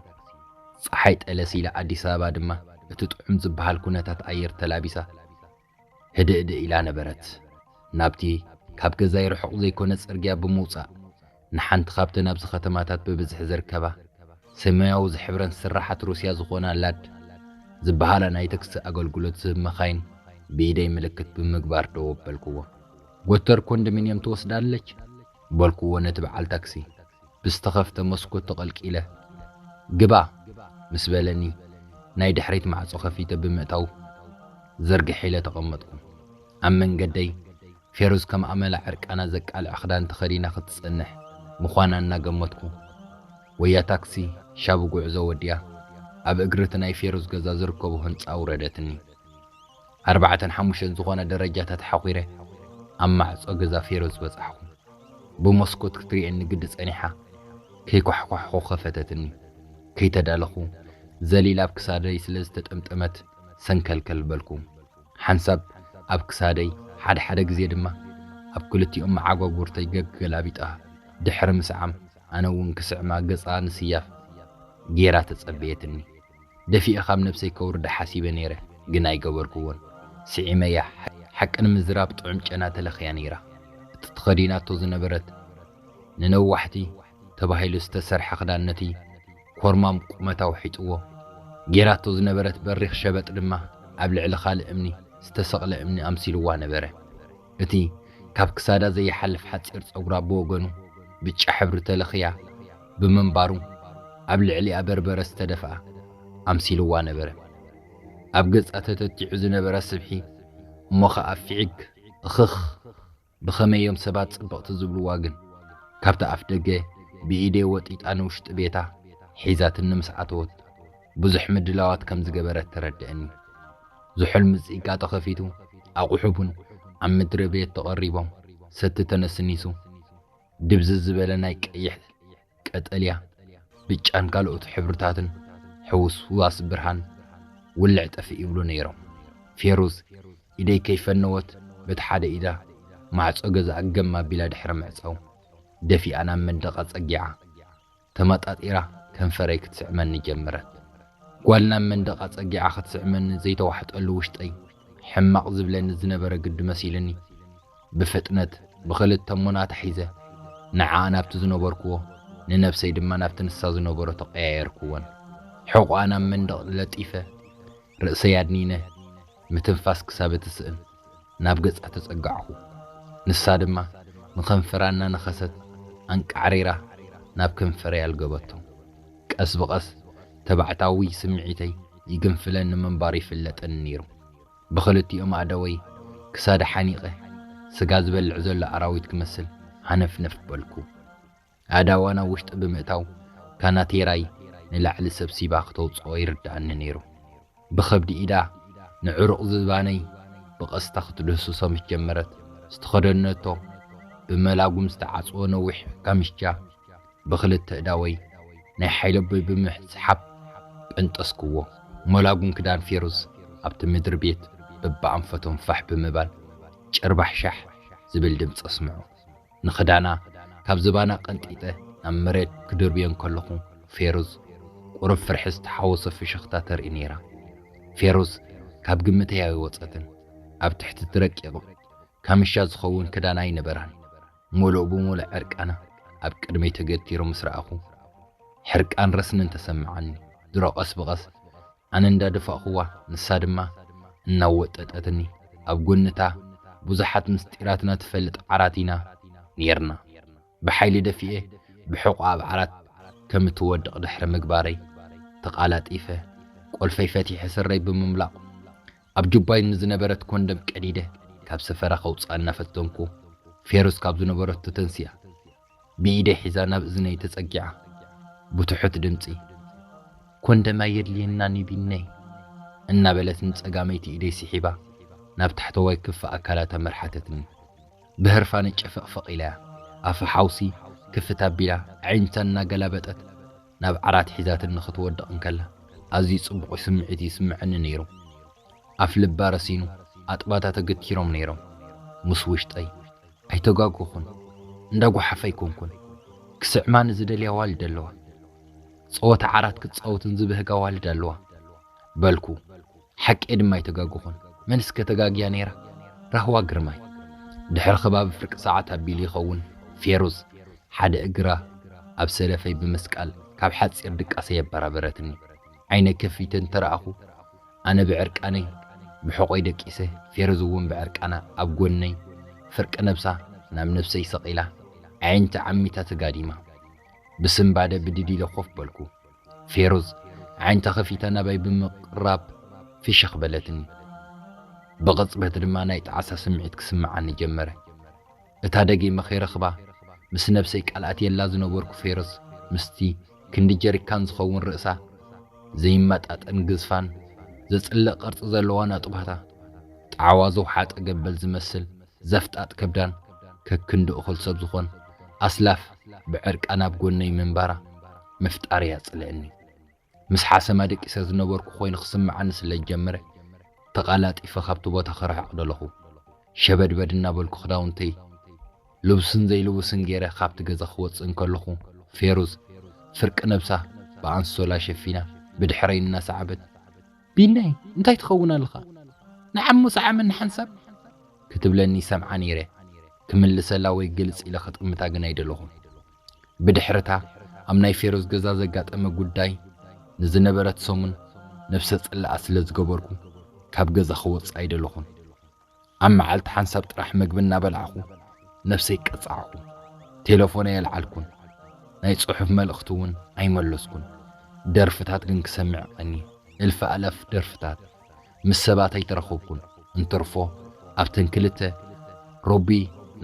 ጸሓይ ጠለስ ኢላ ኣዲስ ኣበባ ድማ እቲ ጥዑም ዝበሃል ኩነታት ኣየር ተላቢሳ ህድእድእ ኢላ ነበረት። ናብቲ ካብ ገዛይ ርሑቕ ዘይኮነ ጽርግያ ብምውጻእ ንሓንቲ ካብተን ኣብዚ ከተማታት ብብዝሒ ዝርከባ ሰማያዊ ዝሕብረን ስርሓት ሩስያ ዝኾና ላድ ዝበሃላ ናይ ተክሲ ኣገልግሎት ዝህብ መካይን ብኢደይ ምልክት ብምግባር ደው ኣበልኩዎ። ጎተር ኮንደሚንየም ትወስዳለች በልኩዎ ነቲ በዓል ታክሲ ብዝተኸፍተ መስኮት ተቐልቂለ። ግባ! ምስ በለኒ ናይ ድሕሪት ማዕጾ ከፊተ ብምእታው ዝርግሕ ኢለ ተቐመጥኩ። ኣብ መንገደይ ፌሩዝ ከም ኣመላ ዕርቃና ዘቃልዕ ክዳን ተኸዲና ክትጸንሕ ምዃና እናገመትኩ ወያ ታክሲ ሻቡ ጉዕዞ ወዲኣ ኣብ እግሪ እቲ ናይ ፌሩዝ ገዛ ዝርከቦ ህንጻ ኣውረደትኒ። ኣርባዕተን ሓሙሽተን ዝኾና ደረጃታት ሓዂረ ኣብ ማዕጾ ገዛ ፌሮዝ በጻሕኩ። ብሞስኮት ክትሪኤኒ ግዲ ጸኒሓ ከይኳሕኳሕኹ ከፈተትኒ። ከይተዳለኹ ዘሊላ ኣብ ክሳደይ ስለ ዝተጠምጠመት ሰንከልከል በልኩ። ሓንሳብ ኣብ ክሳደይ ሓደ ሓደ ግዜ ድማ ኣብ ክልቲኦም መዓጓጉርተይ ገገላቢጣ ድሕሪ ምስዓም ኣነ እውን ክስዕማ ገጻ ንስያፍ ገይራ ተጸበየትኒ። ደፊኤ ካብ ነብሰይ ከውርዳ ሓሲበ ነይረ ግን ኣይገበርኩዎን ስዒመያ ሓቂ ንምዝራብ ጥዑም ጨና ተለኽያ ነይራ እቲ ተኸዲናቶ ዝነበረት ንነዋሕቲ ተባሂሉ ዝተሰርሐ ክዳን ነቲ ኮርማም ቁመታ ውሒጥዎ ጌራቶ ዝነበረት በሪኽ ሸበጥ ድማ ኣብ ልዕሊ ካልእ እምኒ ዝተሰቕለ እምኒ ኣምሲልዋ ነበረ እቲ ካብ ክሳዳ ዘይሓልፍ ሓጺር ጸጉራ ብወገኑ ብጫ ሕብሪ ተለኽያ ብምንባሩ፣ ኣብ ልዕሊኣ በርበረ ዝተደፍኣ ኣምሲልዋ ነበረ። ኣብ ገጻ ተተቲዑ ዝነበረ ስብሒ እሞ ኸኣ ፊዒግ እኽኽ ብኸመይ እዮም ሰባት ጽብቕቲ ዝብልዋ ግን፣ ካብቲ ኣፍደገ ብኢደይ ወጢጣ ንውሽጢ ቤታ ሒዛትኒ ምስ ኣተወት፣ ብዙሕ ምድላዋት ከም ዝገበረት ተረድእኒ። ዝሑል ምጽኢቃ ተኸፊቱ፣ ኣቝሑ ቡን ኣብ ምድሪ ቤት ተቐሪቦም፣ ሰቲ ተነስኒሱ፣ ድብዝዝ ዝበለ ናይ ቀይሕ፣ ቀጠልያ፣ ብጫን ካልኦት ሕብርታትን ሕውስዋስ ብርሃን ውልዕ ጠፍእ ይብሉ ነይሮም። ፌሩዝ ኢደይ ከይፈነወት በቲ ሓደ ኢዳ ማዕጾ ገዛኣ ገም ኣቢላ ድሕሪ ምዕጻው፣ ደፊኣ ናብ መንደቓ ጸጊዓ። ተመጣጢራ ከንፈረይ ክትስዕመኒ ጀመረት። ጓል ናብ መንደቕ ኣጸጊዓ ክትስዕመኒ ዘይተዋሕጠሉ ውሽጠይ ሕማቕ ዝብለኒ ዝነበረ ግዲ መሲሉኒ፣ ብፍጥነት ብኽልተ እሙና ተሒዘ፣ ንዓኣ ናብቲ ዝነበርኩዎ፣ ንነብሰይ ድማ ናብቲ ንሳ ዝነበረቶ ቀያየርኩወን። ሕቖኣ ናብ መንደቕ ለጢፈ፣ ርእሰይ ኣድኒነ፣ ምትንፋስ ክሳብ እትስእን። ናብ ገጻ ተጸጋዕኹ። ንሳ ድማ ንከንፈራ እናነኸሰት ኣንቃዕሪራ ናብ ከንፈረይ ኣልገበቶ። ቀስ ብቐስ ተባዕታዊ ስምዒተይ ይግንፍለኒ ምንባሩ ይፍለጠኒ ነይሩ። ብኽልቲኦም ኣእዳወይ ክሳዳ ሓኒቐ ስጋ ዝበልዕ ዘሎ ኣራዊት ክመስል ሃነፍነፍ በልኩ። ኣእዳዋ ናብ ውሽጢ ብምእታው ካናቴራይ ንላዕሊ ሰብሲባ ክተውጽኦ ይርድኣኒ ነይሩ። ብኸብዲ ኢዳ ንዕሩቕ ዝባነይ ብቐስታ ክትድህስሶ ምስ ጀመረት፣ ዝተኸደነቶ ብመላጉም ዝተዓጽወ ነዊሕ ካምቻ ብኽልተ እዳወይ ናይ ሓይለቦይ ብምስሓብ ጰንጠስኩዎ። መላጉም ክዳን ፌሩዝ ኣብቲ ምድሪ ቤት በብኣንፈቶም ፋሕ ብምባል ጭርባሕሻሕ ዝብል ድምጺ ኣስምዑ። ንኽዳና ካብ ዝባና ቀንጢጠ ናብ መሬት ክድርብዮ እንከለኹ፣ ፌሩዝ ቁሩብ ፍርሒ ዝተሓወሶ ፍሽኽታ ተርኢ ነይራ። ፌሩዝ ካብ ግምተይ ኣይወጸትን። ኣብ ትሕቲ'ቲ ረቂቕ ካምሻ ዝኸውን ክዳና ኣይነበራን። ምሉእ ብምሉእ ዕርቃና ኣብ ቅድመይ ተገቲሩ ምስ ረኣኹ፣ ሕርቃን ረስንን ተሰመዓኒ። ድሮ ቀስ ብቐስ ኣነ እንዳ ደፋእኩዋ ንሳ ድማ እናወጠጠትኒ ኣብ ጎኒ እታ ብዙሓት ምስጢራትና ትፈልጥ ዓራት ኢና ኔርና ብሓይሊ ደፊኤ ብሕቆ ኣብ ዓራት ከም እትወድቅ ድሕሪ ምግባረይ ተቃላጢፈ ቆልፈይ ፈቲሐ ስረይ ብምምላቅ ኣብ ጁባይ ንዝነበረት ኮንደም ቀዲደ ካብ ሰፈራ ከውጽኣ እናፈተንኩ ፌሩዝ ካብ ዝነበረቶ ተንሲኣ ብኢደይ ሒዛ ናብ እዝነይ ተጸጊዓ ብትሑት ድምጺ፣ ኮንደም ኣየድልየናን እዩ ቢነይ፣ እናበለት ንጸጋመይቲ ኢደይ ስሒባ ናብ ታሕተዋይ ክፋ ኣካላታ መርሓተትኒ። ብህርፋን ጨፈቕፈቕ ኢላያ፣ ኣፋ ሓውሲ ክፍት ኣቢላ ኣዒንታ እናገላበጠት ናብ ዓራት ሒዛትኒ ክትወድቕ እንከላ ኣዝዩ ጽቡቕ ስምዒት እዩ ዝስምዓኒ ነይሩ። ኣፍልባ ረሲኑ ኣጥባታ ተገቲሮም ነይሮም ምስ ውሽጠይ። ኣይተጋገኹን እንዳ ጎሓፍ ኣይኮንኩን ክስዕማኒ ዝደልያ ኣዋልድ ኣለዋ ጸወታ ዓራት ክትጻወትን ዝብህጋ ኣዋልድ ኣለዋ በልኩ ሓቄ ድማ ኣይተጋገኹን መንስ ከ ተጋግያ ነይራ ራህዋ ግርማይ ድሕሪ ከባቢ ፍርቂ ሰዓት ኣቢሉ ይኸውን ፌሩዝ ሓደ እግራ ኣብ ሰለፈይ ብምስቃል ካብ ሓጺር ድቃሰይ ኣበራበረትኒ ዓይነይ ከፊተ እንተረኣኹ ኣነ ብዕርቃነይ ብሕቆይ ደቂሰ ፌረዙ እውን ብዕርቃና ኣብ ጎነይ ፍርቂ ነብሳ ናብ ነብሰይ ሰቂላ ኣዒንቲ ዓሚታ ተጋዲማ ብስንባደ ብድድ ኢለ ኮፍ በልኩ ፌሩዝ ኣዒንታ ከፊታ ናባይ ብምቅራብ ፍሽክ በለትኒ ብቅፅበት ድማ ናይ ጣዕሳ ስምዒት ክስመዓኒ ጀመረ እታ ደጊመ ከይረኽባ ምስ ነብሰይ ቃል ኣትየላ ዝነበርኩ ፌሮዝ ምስቲ ክንዲ ጀሪካን ዝኸውን ርእሳ፣ ዘይመጣጠን ግዝፋን ዘጽልእ ቅርጺ ዘለዋ ነጥብታ፣ ጣዕዋ ዝውሓጠ ገበል ዝመስል ዘፍጣጥ ከብዳን ከክንዲ እኹል ሰብ ዝኾን ኣስላፍ ብዕርቃን ኣብ ጎነይ ምንባራ ምፍጣር'ያ ጽልእኒ። ምስ ሓሰማ ደቂሰ ዝነበርኩ ኮይኑ ክስምዓኒ ስለ ዝጀመረ ተቓላጢፈ ካብቲ ቦታ ክርሕቕ ደለኹ። ሸበድበድ እናበልኩ ክዳውንተይ ልቡስን ዘይልቡስን ገይረ ካብቲ ገዛ ክወጽእ እንከለኹ ፌሩዝ ፍርቂ ነብሳ ብኣንሶላ ሸፊና ብድሕረይ እናሰዓበት፣ ቢናይ እንታይ ትኸውን ኣለኻ ንዓሞ ሰዓመኒ ሓንሳብ? ክትብለኒ ይሰምዓ ነይረ። ክምልሰላ ወይ ግልጽ ኢለ ክጥምታ ግን ኣይደለኹን። ብድሕሪ'ታ ኣብ ናይ ፌሮዝ ገዛ ዘጋጠመ ጉዳይ ንዝነበረት ሰሙን ነብሰ ጽላኣ ስለ ዝገበርኩ ካብ ገዛ ክወጽእ ኣይደለኹን። ኣብ መዓልቲ ሓንሳብ ጥራሕ መግቢ እናበላዕኹ ነብሰይ ቀጻዕኩ። ቴለፎነይ ኣልዓልኩን። ናይ ጽሑፍ መልእኽቲ'ውን ኣይመለስኩን። ደርፍታት ግን ክሰምዕ ቀንየ። እልፍ ኣእላፍ ደርፍታት። ምስ ሰባት ኣይተራኸብኩን፣ እንትርፎ ኣብተን ክልተ ሮቢ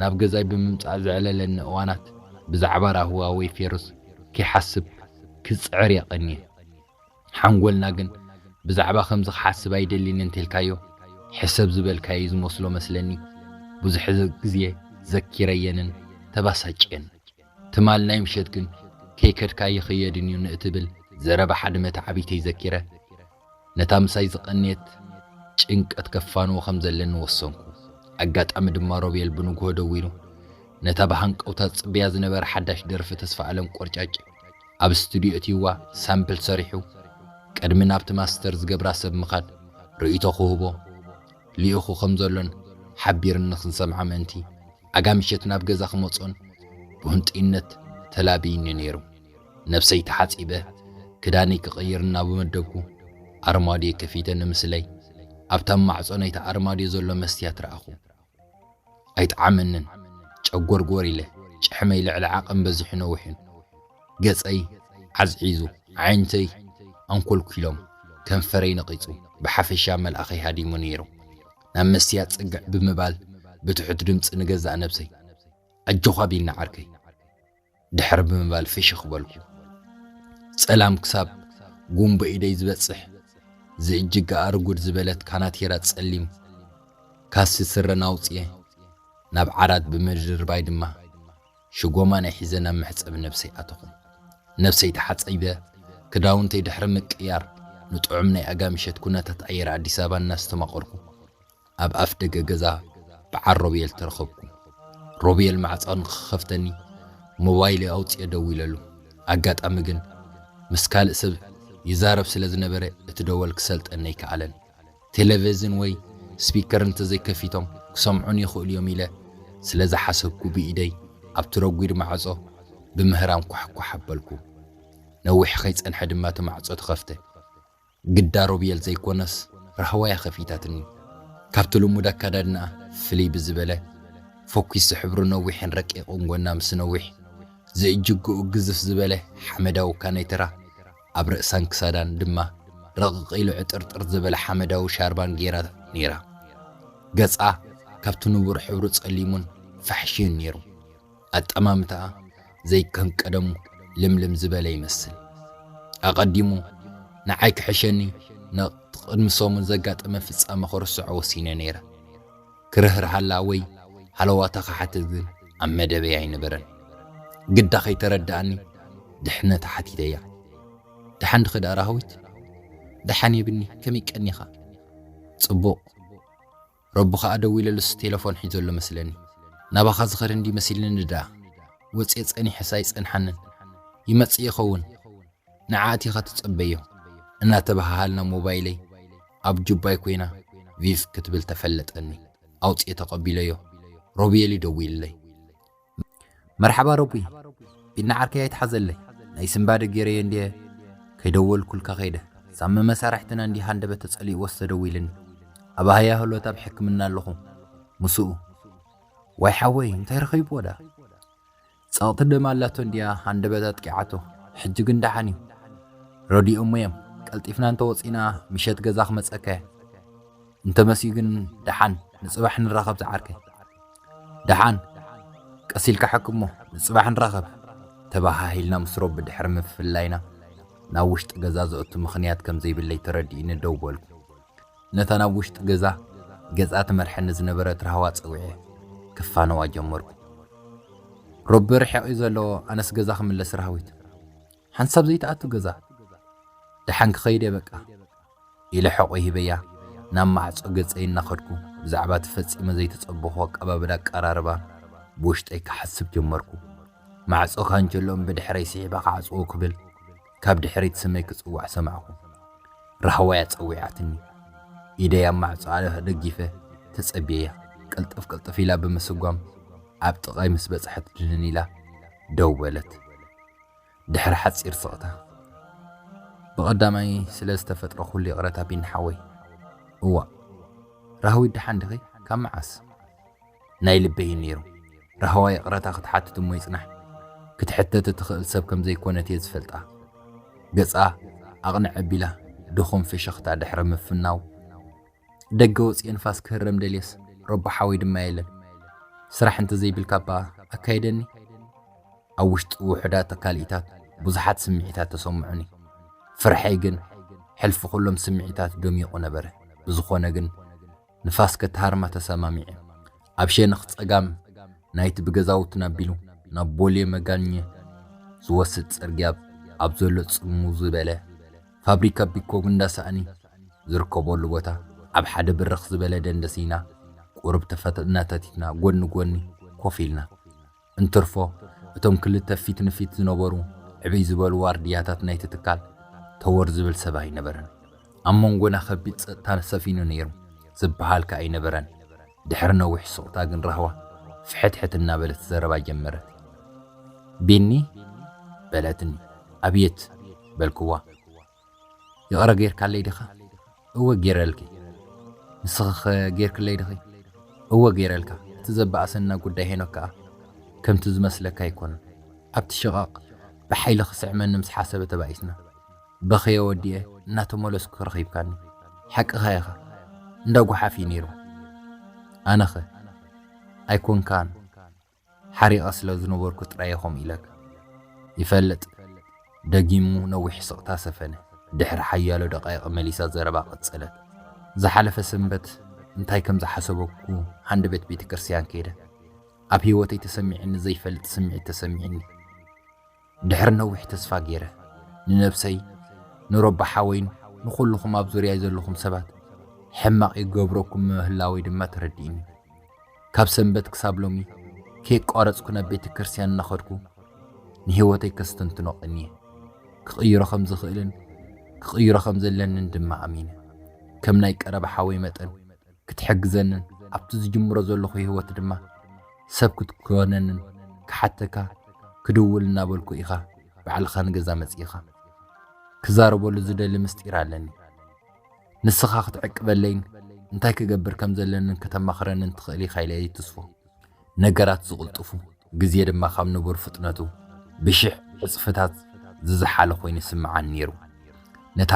ናብ ገዛይ ብምምጻእ ዘዕለለኒ እዋናት ብዛዕባ ራህዋ ወይ ፌሩዝ ከይሓስብ ክጽዕር እየ ቀንየ። ሓንጎልና ግን ብዛዕባ ከምዚ ክሓስብ ኣይደሊን እንተልካዮ ሕሰብ ዝበልካዮ እዩ ዝመስሎ መስለኒ። ብዙሕ ግዜ ዘኪረየንን ተባሳጭየን። ትማል ናይ ምሸት ግን ከይከድካ ኣይኽየድን እዩ ንእትብል ዘረባ ሓደ መተዓብይተይ ዘኪረ፣ ነታ ምሳይ ዝቐነየት ጭንቀት ከፋንዎ ከም ዘለኒ ወሰንኩ። ኣጋጣሚ ድማ ሮቤል ብንግሆ ደዊሉ ነታ ብሃንቀውታ ዝጽበያ ዝነበረ ሓዳሽ ደርፊ ተስፋኣለም ቆርጫጭ ኣብ ስቱድዮ እትይዋ ሳምፕል ሰሪሑ ቅድሚ ናብቲ ማስተር ዝገብራ ሰብ ምኻድ ርእይቶ ክህቦ ልኢኹ ከም ዘሎን ሓቢርኒ ክንሰምዓ ምእንቲ ኣጋ ምሸት ናብ ገዛ ክመጽኦን ብህንጡይነት ተላብዩኒ ነይሩ። ነብሰይ ተሓጺበ ክዳነይ ክቕይር እናበመደብኩ ኣርማድዮ ከፊተ ንምስለይ ኣብታ ማዕጾ ናይቲ ኣርማድዮ ዘሎ መስትያት ረኣኹ። ኣይጠዓመንን፣ ጨጎርጎር ኢለ፣ ጭሕመይ ልዕሊ ዓቐን በዚሑ ነዊሑን። ገጸይ ዓዝዒዙ፣ ኣዒንተይ ኣንኮልኲሎም፣ ከንፈረይ ነቒጹ፣ ብሓፈሻ መልኣኸይ ሃዲሙ ነይሩ። ናብ መስትያት ጽግዕ ብምባል ብትሑት ድምጺ ንገዛእ ነብሰይ ኣጆኻ ቢኒ ዓርከይ! ድሕር ብምባል ፍሽኽ በልኩ። ጸላም ክሳብ ጉንቦ ኢደይ ዝበጽሕ ዝእጅገኣ ርጉድ ዝበለት ካናቲራ ጸሊም ካሲ ስረን ኣውጺኤ ናብ ዓራት ብምድርባይ ድማ ሽጎማናይ ሒዘ ናብ መሕጸቢ ነብሰይ ኣተኹ። ነብሰይ ተሓጸይበ ክዳውንተይ ድሕሪ ምቅያር ንጥዑም ናይ ኣጋምሸት ኩነታት ኣየር ኣዲስ ኣበባ እናስተማቐርኩ ኣብ ኣፍ ደገ ገዛ በዓል ሮቤል ተረኸብኩ። ሮቤል ማዕጾ ንኽኸፍተኒ ሞባይለይ ኣውጺኤ ደዊለሉ። ኣጋጣሚ ግን ምስ ካልእ ሰብ ይዛረብ ስለ ዝነበረ እቲ ደወል ክሰልጠኒ ኣይከኣለን። ቴለቨዝን ወይ ስፒከር እንተዘይከፊቶም ክሰምዑኒ ይኽእሉ እዮም ኢለ ስለ ዝሓሰብኩ ብኢደይ ኣብቲ ረጒድ ማዕጾ ብምህራም ኳሕኳሕ ኣበልኩ። ነዊሕ ከይጸንሐ ድማ እቲ ማዕጾ ተኸፍተ። ግዳ ሮብየል ዘይኮነስ ራህዋ'ያ ከፊታትኒ። ካብቲ ልሙድ ኣከዳድናኣ ፍልይ ብዝበለ፣ ፈኲሱ ሕብሩ ነዊሕን ረቂቕን ጎና ምስ ነዊሕ ዝእጅግኡ ግዝፍ ዝበለ ሓመዳዊ ካኔትራ፣ ኣብ ርእሳን ክሳዳን ድማ ረቕቕ ኢሉ ዕጥርጥር ዝበለ ሓመዳዊ ሻርባን ገይራ ነይራ። ገጻ ካብቲ ንቡር ሕብሩ ጸሊሙን ፋሕሽዩን ነይሩ። ኣጠማምታኣ ዘይከም ቀደሙ ልምልም ዝበለ ይመስል። ኣቐዲሙ ንዓይ ክሕሸኒ ነቕቲ ቅድሚ ሰሙን ዘጋጠመ ፍጻመ ክርስዖ ወሲነ ነይረ። ክርህርሃላ ወይ ሃለዋታ ክሓትት ግን ኣብ መደበይ ኣይነበረን። ግዳ ከይተረድኣኒ ድሕነታ ሓቲተያ። ደሓን ድኺ ደኣ ራህዊት? ደሓን የብኒ፣ ከመይ ቀኒኻ? ጽቡቕ። ረቡ ከኣ ደዊለሉስ ቴለፎን ሒዙ ኣሎ መስለኒ ናባኻ ዝኸድ እንድዩ መሲልኒ ደኣ ወጽየ ጸኒሐስ ኣይጸንሓንን ይመጽእ ይኸውን ንዓ ኣቲኻ ትጸበዮ እናተበሃሃልና ሞባይለይ ኣብ ጁባይ ኮይና ቪቭ ክትብል ተፈለጠኒ ኣውጽየ ተቐቢለዮ ሮብየልዩ ደዊልለይ መርሓባ ረቡይ ቢኒ ዓርከይ ኣይትሓዘለይ ናይ ስንባደ ጌረዮ እንድየ ከይደወልኩልካ ከይደ ሳሚ መሳርሕትና እንድየ ሃንደበት ተጸሊእዎስ ተደዊልኒ ኣብ ኣህያ ህሎት ኣብ ሕክምና ኣለኹ ምስኡ ዋይ ሓወይ እንታይ ረኺብዎ ዳ ጸቕቲ ደም ኣላቶ እንድያ ሃንደበት ኣጥቂዓቶ ሕጂ ግን ደሓን እዩ ረዲኦሞ እዮም ቀልጢፍና እንተወፂና ምሸት ገዛ ክመፀካ እየ እንተመስዩ ግን ደሓን ንፅባሕ ንራኸብ ዝዓርከይ ደሓን ቀስ ኢልካ ሓክሞ ንጽባሕ ንራኸብ ተበሃሂልና ምስ ሮቢ ድሕሪ ምፍላይና ናብ ውሽጢ ገዛ ዘእቱ ምኽንያት ከም ዘይብለይ ተረዲኡኒ ደው በልኩ። ነታ ናብ ውሽጢ ገዛ ገጻ ትመርሐኒ ዝነበረት ራህዋ ጸዊዐ ክፋነዋ ጀመርኩ። ሮቢ ርሒቕ እዩ ዘሎ ኣነስ ገዛ ክምለስ ራህዊት ሓንሳብ ዘይትኣቱ ገዛ ደሓን ክኸይድ እየ በቃ ኢለ ሕቖይ ሂበያ ናብ ማዕጾ ገጸይ እናኸድኩ፣ ብዛዕባ እቲ ፈጺመ ዘይተጸበኹ ኣቀባብላ ኣቀራርባ ብውሽጠይ ክሓስብ ጀመርኩ። ማዕጾ ካንቸሎኦም ብድሕረይ ስሒባ ክዓጽዎ ክብል ካብ ድሕሪት ስመይ ክጽዋዕ ሰማዕኩ። ራህዋ'ያ ጸዊዓትኒ። ኢደይ ኣብ ማዕጾ ኣደጊፈ ተጸብየያ፣ ቅልጥፍ ቅልጥፍ ኢላ ብምስጓም ኣብ ጥቓይ ምስ በጽሐት ድንን ኢላ ደው በለት። ድሕሪ ሓጺር ስቕታ፣ ብቐዳማይ ስለ ዝተፈጥሮ ኩሉ ይቕረታ ቢኒ ሓወይ። እዋእ ራህዊት ደሓን ዲኺ? ካብ መዓስ? ናይ ልበይ እዩ ነይሩ። ራህዋ ይቕረታ ክትሓትት እሞ ይጽናሕ፣ ክትሕተት እትኽእል ሰብ ከም ዘይኮነት እየ ዝፈልጣ። ገጻ ኣቕንዕ ኣቢላ ድኹም ፍሽኽታ ድሕሪ ምፍናው፣ ደገ ወጽየ ንፋስ ክህረም ደልየስ ረቡሓወይ ድማ የለን። ስራሕ እንተዘይብልካ እባ ኣካይደኒ። ኣብ ውሽጢ ውሑዳት ኣካልኢታት ብዙሓት ስምዒታት ተሰምዑኒ። ፍርሐይ ግን ሕልፊ ኩሎም ስምዒታት ደሚቑ ነበረ። ብዝኾነ ግን ንፋስ ከትሃርማ ተሰማሚዐ። ኣብ ሸነኽ ጸጋም ናይቲ ብገዛውትና ኣቢሉ ናብ ቦሌ መጋኘ ዝወስድ ጽርግያ ኣብ ዘሎ ጽምው ዝበለ ፋብሪካ ቢኮ እንዳ ሳእኒ ዝርከበሉ ቦታ ኣብ ሓደ ብርኽ ዝበለ ደንደስ ኢና ቁሩብ ተፈጥ እናተቲትና ጎኒ ጎኒ ኮፍ ኢልና። እንትርፎ እቶም ክልተ ፊት ንፊት ዝነበሩ ዕብይ ዝበሉ ዋርድያታት ናይቲ ትካል ተወር ዝብል ሰብ ኣይነበረን። ኣብ መንጎና ከቢድ ጸጥታ ሰፊኑ ነይሩ ዝበሃልከ ኣይነበረን። ድሕሪ ነዊሕ ሱቕታ ግን ራህዋ ፍሕትሕት እናበለት ዘረባ ጀመረት። ቢኒ? በለትኒ። ኣብየት! በልክዋ። ይቕረ ገይርካለይ ዲኻ? እወ ገይረልኪ። ንስኺኸ ገይርክለይ ዲኺ? እወ ገይረልካ። እቲ ዘበኣሰና ጉዳይ ሄኖክ ከኣ ከምቲ ዝመስለካ ኣይኮነን። ኣብቲ ሽቓቕ ብሓይሊ ክስዕመኒ ምስ ሓሰበ ተባኢስና። በኽየ ወዲኤ እናተመለስኩ ረኺብካኒ ሓቅኻ ኢኻ እንዳ ጉሓፍ እዩ ነይሩ ኣነኸ ኣይኮንካን ሓሪቐ ስለ ዝነበርኩ ጥራየ ከምኡ ኢለካ ይፈልጥ ደጊሙ ነዊሕ ስቕታ ሰፈነ ድሕሪ ሓያሎ ደቃይቕ መሊሳ ዘረባ ቀጸለት ዝሓለፈ ሰንበት እንታይ ከም ዝሓሰበኩ ሃንደበት ቤተ ክርስቲያን ከይደ ኣብ ህይወተይ ተሰሚዕኒ ዘይፈልጥ ስምዒት ተሰሚዕኒ ድሕሪ ነዊሕ ተስፋ ገይረ ንነብሰይ ንሮባ ሓወይን ንኹሉኹም ኣብ ዙርያይ ዘለኹም ሰባት ሕማቕ ይገብረኩም ምህላወይ ድማ ተረዲእኒ። ካብ ሰንበት ክሳብ ሎሚ ከየቋረጽኩ ናብ ቤተ ክርስቲያን እናኸድኩ ንህይወተይ ከስተንትኖ ቀንየ። ክቕይሮ ከም ዝኽእልን ክቕይሮ ከም ዘለንን ድማ ኣሚነ ከም ናይ ቀረባ ሓወይ መጠን ክትሕግዘንን ኣብቲ ዝጅምሮ ዘለኹ ህይወት ድማ ሰብ ክትኮነንን ክሓተካ ክድውል እናበልኩ ኢኻ ባዕልኻ ንገዛ መጺእኻ። ክዛረበሉ ዝደሊ ምስጢር ኣለኒ። ንስኻ ክትዕቅበለይን እንታይ ክገብር ከም ዘለንን ከተማኽረንን ትኽእል ኢኻ ኢለ ይትስፎ። ነገራት ዝቕልጥፉ፣ ግዜ ድማ ካብ ንቡር ፍጥነቱ ብሽሕ ዕጽፍታት ዝዘሓለ ኰይኑ ይስምዓኒ ነይሩ። ነታ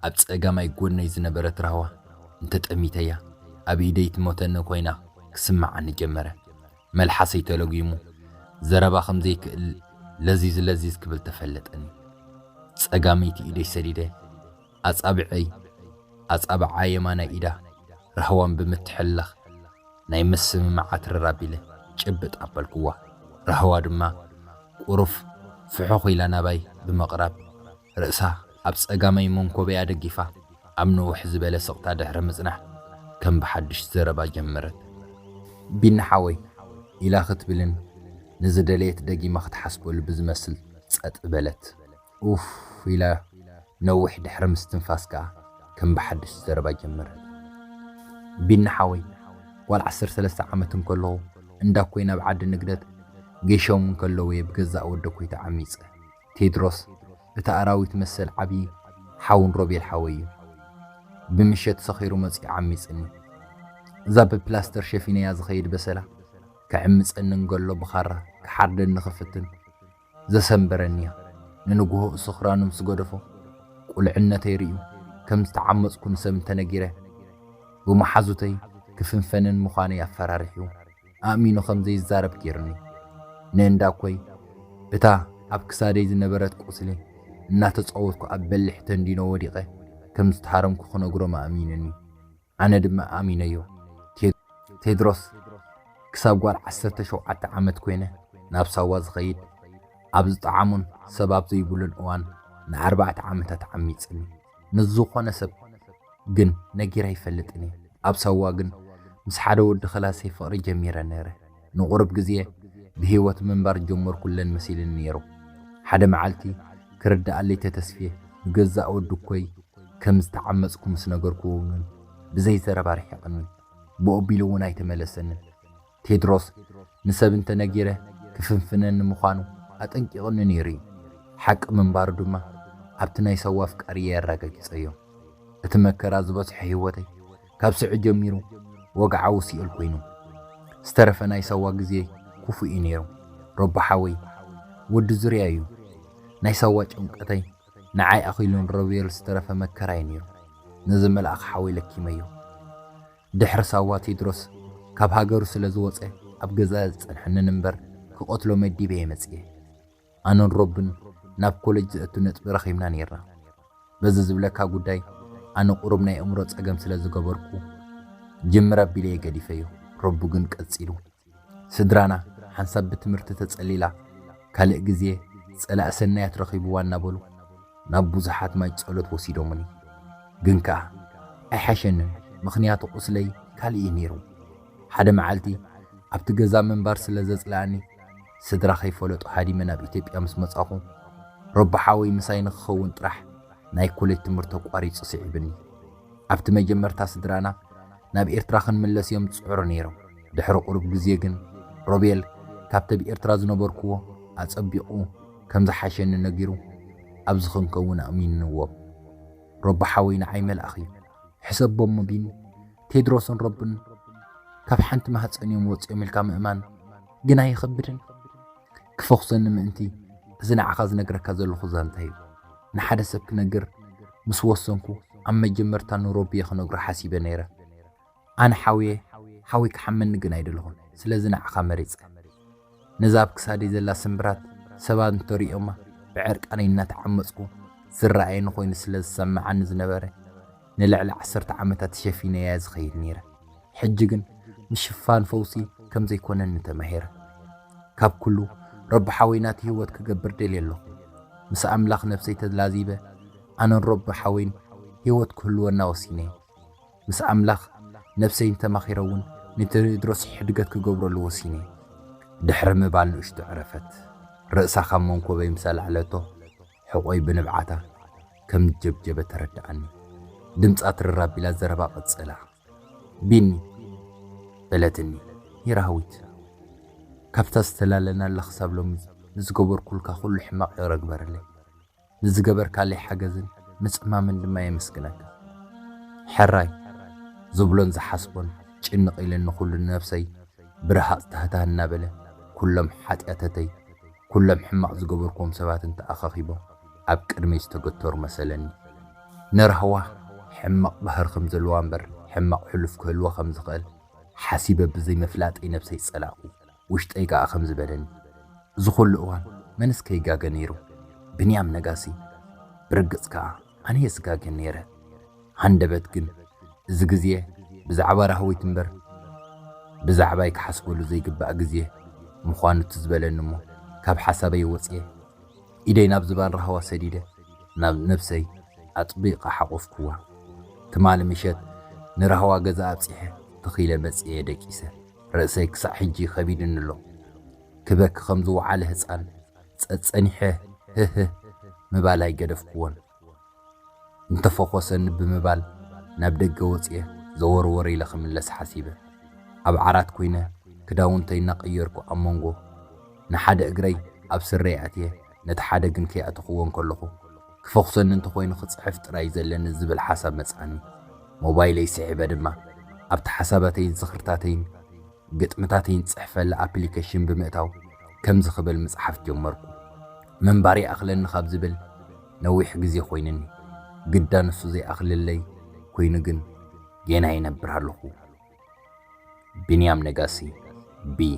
ኣብ ጸጋማይ ጐድነይ ዝነበረት ራህዋ እንተጠሚተያ፣ ኣብ ኢደይ ትሞተኒ ኰይና ክስምዓኒ ጀመረ። መልሓሰይ ተለጒሙ፣ ዘረባ ከም ዘይክእል ለዚዝ ለዚዝ ክብል ተፈለጠኒ። ጸጋመይቲ ኢደይ ሰዲደ። ኣጻብዕይ ኣጻብዓ የማናይ ኢዳ ራህዋን ብምትሕልላኽ ናይ ምስምማዕ ኣትረር ኣቢለ ጭብጥ ኣበልኩዋ። ራህዋ ድማ ቁሩፍ ፍሑኽ ኢላ ናባይ ብምቕራብ ርእሳ ኣብ ጸጋማይ መንኮበያ ደጊፋ ኣብ ንውሕ ዝበለ ስቕታ ድሕሪ ምጽናሕ ከም ብሓድሽ ዘረባ ጀመረት። ቢኒ ሓወይ ኢላ ክትብልን ንዝደለየት ደጊማ ክትሓስበሉ ብዝመስል ጸጥ በለት። ኡፍ ኢለ ነዊሕ ድሕሪ ምስትንፋስ ከኣ ከም ብሓድሽ ዘረባ ጀመረት። ቢኒ ሓወይ ጓል ዓሰርተ ሰለስተ ዓመት እንከለኹ እንዳኮይ ናብ ዓዲ ንግደት ገይሾም እንከለው'የ ብገዛእ ወደኮይ ተዓሚጸ። ቴድሮስ እቲ ኣራዊት መሰል ዓብዪ ሓውን ሮቤል ሓወይ'ዩ። ብምሸት ሰኺሩ መጺኡ ዓሚጽኒ። እዛ ብፕላስተር ሸፊነያ ዝኸይድ በሰላ ክዕምጸኒ እንገሎ ብኻራ ክሓርደኒ ክፍትን ዘሰንበረኒያ ንንግሆኡ ስኽራኑ ምስ ገደፎ ቁልዕነተይ ርእዩ ከም ዝተዓመጽኩ ንሰብ እንተነጊረ ብመሓዙተይ ክፍንፈንን ምዃነይ ኣፈራሪሑ ኣእሚኑ ከም ዘይዛረብ ጌሩኒ ንእንዳ ኮይ እታ ኣብ ክሳደይ ዝነበረት ቁስሊ እናተጻወትኩ ኣብ በሊሕ ተንዲኖ ወዲቐ ከም ዝተሃረምኩ ክነግሮም ኣእሚኑኒ። ኣነ ድማ ኣሚነዮ። ቴድሮስ ክሳብ ጓል ዓሰርተ ሸውዓተ ዓመት ኮይነ ናብ ሳዋ ዝኸይድ ኣብ ዝጠዓሞን ሰብ ኣብ ዘይብሉን እዋን ንኣርባዕተ ዓመታት ዓሚጽኒ። ንዝኾነ ሰብ ግን ነጊረ ኣይፈልጥን እየ። ኣብ ሳዋ ግን ምስ ሓደ ወዲ ክላሰይ ፍቕሪ ጀሚረ ነይረ። ንቑሩብ ግዜ ብህይወት ምንባር ጀመርኩለን መሲልኒ ነይሩ። ሓደ መዓልቲ ክርድኣለይ ተተስፌ ብገዛእ ወድኮይ ከም ዝተዓመጽኩ ምስ ነገርኩዎ ግን ብዘይ ዘረባ ርሒቕኒ። ብኦቢሉ እውን ኣይተመለሰንን። ቴድሮስ ንሰብ እንተ ነጊረ ክፍንፍነኒ ምዃኑ ኣጠንቂቕኒ ነይሩ እዩ። ሓቂ ምንባሩ ድማ ኣብቲ ናይ ሰዋ ኣፍቃሪየይ ኣራጋጊጸዮ። እቲ መከራ ዝበዝሖ ህይወተይ ካብ ስዑ ጀሚሩ ወግዓዊ ሲኦል ኮይኑ ዝተረፈ ናይ ሳዋ ግዜ ኩፉእ እዩ ነይሩ ሮባ ሓወይ ወዲ ዙርያ እዩ ናይ ሳዋ ጭምቀተይ ንዓይ ኣኺሉን ረብዮል ዝተረፈ መከራ እዩ ነይሩ ነዚ መልኣኽ ሓወይ ለኪመዮ ድሕሪ ሳዋ ቴድሮስ ካብ ሃገሩ ስለ ዝወፀ ኣብ ገዛ ዝፀንሐንን እምበር ክቐትሎ መዲበየ መፅየ ኣነን ሮብን ናብ ኮለጅ ዘእቱ ነጥቢ ረኺብና ኔርና። በዚ ዝብለካ ጉዳይ ኣነ ቁሩብ ናይ ኣእምሮ ጸገም ስለ ዝገበርኩ ጅምር ኣቢለ'የ ገዲፈዮ። ሮብ ግን ቀጺሉ። ስድራና ሓንሳብ ብትምህርቲ ተጸሊላ ካልእ ግዜ ጸላኢ ሰናያት ረኺብዋ እናበሉ ናብ ብዙሓት ማይ ጸሎት ወሲዶሙኒ። ግን ከኣ ኣይሓሸንን ምኽንያቱ ቁስለይ ካልእ'ዩ ኔሩ። ሓደ መዓልቲ ኣብቲ ገዛ ምንባር ስለ ዘጽለኣኒ፣ ስድራ ከይፈለጡ ሃዲመ ናብ ኢትዮጵያ ምስ መጻኹ፣ ሮቢ ሓወይ ምሳይ ንክኸውን ጥራሕ ናይ ኮሌጅ ትምህርቲ ኣቋሪጹ ስዒብኒ። ኣብቲ መጀመርታ ስድራና ናብ ኤርትራ ክንምለስ እዮም ዝጽዕሩ ነይሮም። ድሕሪ ቁሩብ ግዜ ግን ሮቤል ካብቲ ኣብ ኤርትራ ዝነበርኩዎ ኣጸቢቑ ከም ዝሓሸኒ ነጊሩ ኣብዚ ክንከውን ኣእሚንዎም። ሮቢ ሓወይ ንዓይ መልኣኽ እዩ። ሕሰቦ እሞ ቢኒ፣ ቴድሮስን ሮብን ካብ ሓንቲ ማህጸን እዮም ወጺኦም ኢልካ ምእማን። ግን ኣይኸብድን ክፈኹሰኒ ምእንቲ እዚ ንዓኻ ዝነግረካ ዘለኹ ዛንታ እዩ ንሓደ ሰብ ክነግር ምስ ወሰንኩ ኣብ መጀመርታ ንሮቢየ ክነግሮ ሓሲበ ነይረ ኣነ ሓውየ ሓወይ ክሓመኒ ግን ኣይደለኹን ስለዚ ንዓኻ መሪጸ ነዛ ኣብ ክሳደይ ዘላ ስምብራት ሰባት እንተሪኦማ ብዕርቃነይ እናተዓመጽኩ ዝረኣየኒ ኮይኑ ስለ ዝሰምዓኒ ዝነበረ ንልዕሊ ዓሰርተ ዓመታት ተሸፊነያ ዝኸይድ ነይረ። ሕጂ ግን ምሽፋን ፈውሲ ከም ዘይኮነኒ ተማሂረ። ካብ ኩሉ ረቡሓወይ ናቲ ህይወት ክገብር ደልየ ኣለኹ። ምስ ኣምላኽ ነፍሰይ ተላዚበ ኣነን ረቡሓወይን ህይወት ክህልወና ወሲነ። ምስ ኣምላኽ ነፍሰይን ተማኺረ እውን ንቴድሮስ ሕድገት ክገብረሉ ወሲነ። ድሕሪ ምባል ንእሽቶ ዕረፈት። ርእሳ ካብ መንኮበይ ምስ ኣልዓለቶ ሕቖይ ብንብዓታ ከም ጀብጀበ ተረድኣኒ። ድምጻ ትርር ኣቢላ ዘረባ ቀጸላ። ቢኒ! በለትኒ። ሂራዊት! ካብታ ዝተላለናላ ክሳብ ሎሚ ንዝገበርኩልካ ኩሉ ሕማቕ ይቕረ ግበረለይ። ንዝገበርካለይ ሓገዝን ምጽማምን ድማ የመስግነካ። ሕራይ! ዝብሎን ዝሓስቦን ጭንቕ ኢለኒ ኩሉ ንነብሰይ ብረሃጽ ታህታህ እናበለ ኩሎም ሓጥያተተይ ኩሎም ሕማቕ ዝገበርክዎም ሰባት እንተ ኣኸኺቦም ኣብ ቅድመይ ዝተገተሩ መሰለኒ። ንራህዋ ሕማቕ ባህሪ ከም ዘለዋ እምበር ሕማቕ ሕሉፍ ክህልዋ ከም ዝኸእል ሓሲበ ብዘይ ምፍላጠይ ነብሰይ ጸላእኩ። ውሽጠይ ከኣ ከምዚ በለኒ። እዚ ኩሉ እዋን መንስ ከይጋገ ነይሩ? ብንያም ነጋሲ። ብርግጽ ከኣ ኣነየ ዝጋገ ነይረ። ሃንደበት ግን እዚ ግዜ ብዛዕባ ራህዊት እምበር ብዛዕባይ ክሓስበሉ ዘይግባእ ግዜ ምዃኑ ትዝ በለኒ'ሞ ካብ ሓሳበይ ወጺኤ ኢደይ ናብ ዝባን ራህዋ ሰዲደ ናብ ነብሰይ ኣጥቢቐ ሓቖፍኩዋ። ትማሊ ምሸት ንራህዋ ገዛ ኣብጺሐ ተኺለ መጺኤ ደቂሰ ርእሰይ ክሳዕ ሕጂ ከቢዱኒ'ሎ ክበኪ ከም ዝወዓለ ህጻን ጸጸኒሐ ህህህ ምባል ኣይገደፍኩዎን። እንተፈኾሰኒ ብምባል ናብ ደገ ወጺኤ ዘወርወር ኢለ ክምለስ ሓሲበ። ኣብ ዓራት ኩይነ ክዳውንተይ እናቐየርኩ ኣብ መንጎ ንሓደ እግረይ ኣብ ስረይ ኣእትየ ነቲ ሓደ ግን ከይኣተኹዎ እንከለኹ ክፈኹሰኒ እንተኾይኑ ክጽሕፍ ጥራይ እዩ ዘለኒ ዝብል ሓሳብ መጽኣኒ። ሞባይለይ ስሒበ ድማ ኣብቲ ሓሳባተይን ዝኽርታተይን ግጥምታተይን ዝጽሕፈላ ኣፕሊከሽን ብምእታው ከምዚ ክብል ምጽሓፍ ጀመርኩ። ምንባር ይኣኽለኒ ካብ ዝብል ነዊሕ ግዜ ኮይኑኒ፣ ግዳ ንሱ ዘይኣኽለለይ ኮይኑ ግን ጌና ይነብር ኣለኹ። ቢንያም ነጋሲ፣ ብ፣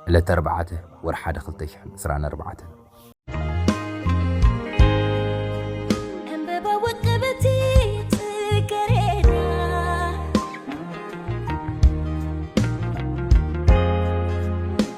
ዕለት ኣርባዕተ፣ ወርሒ ሓደ ክልተ ሽሕን ዕስራን ኣርባዕተን።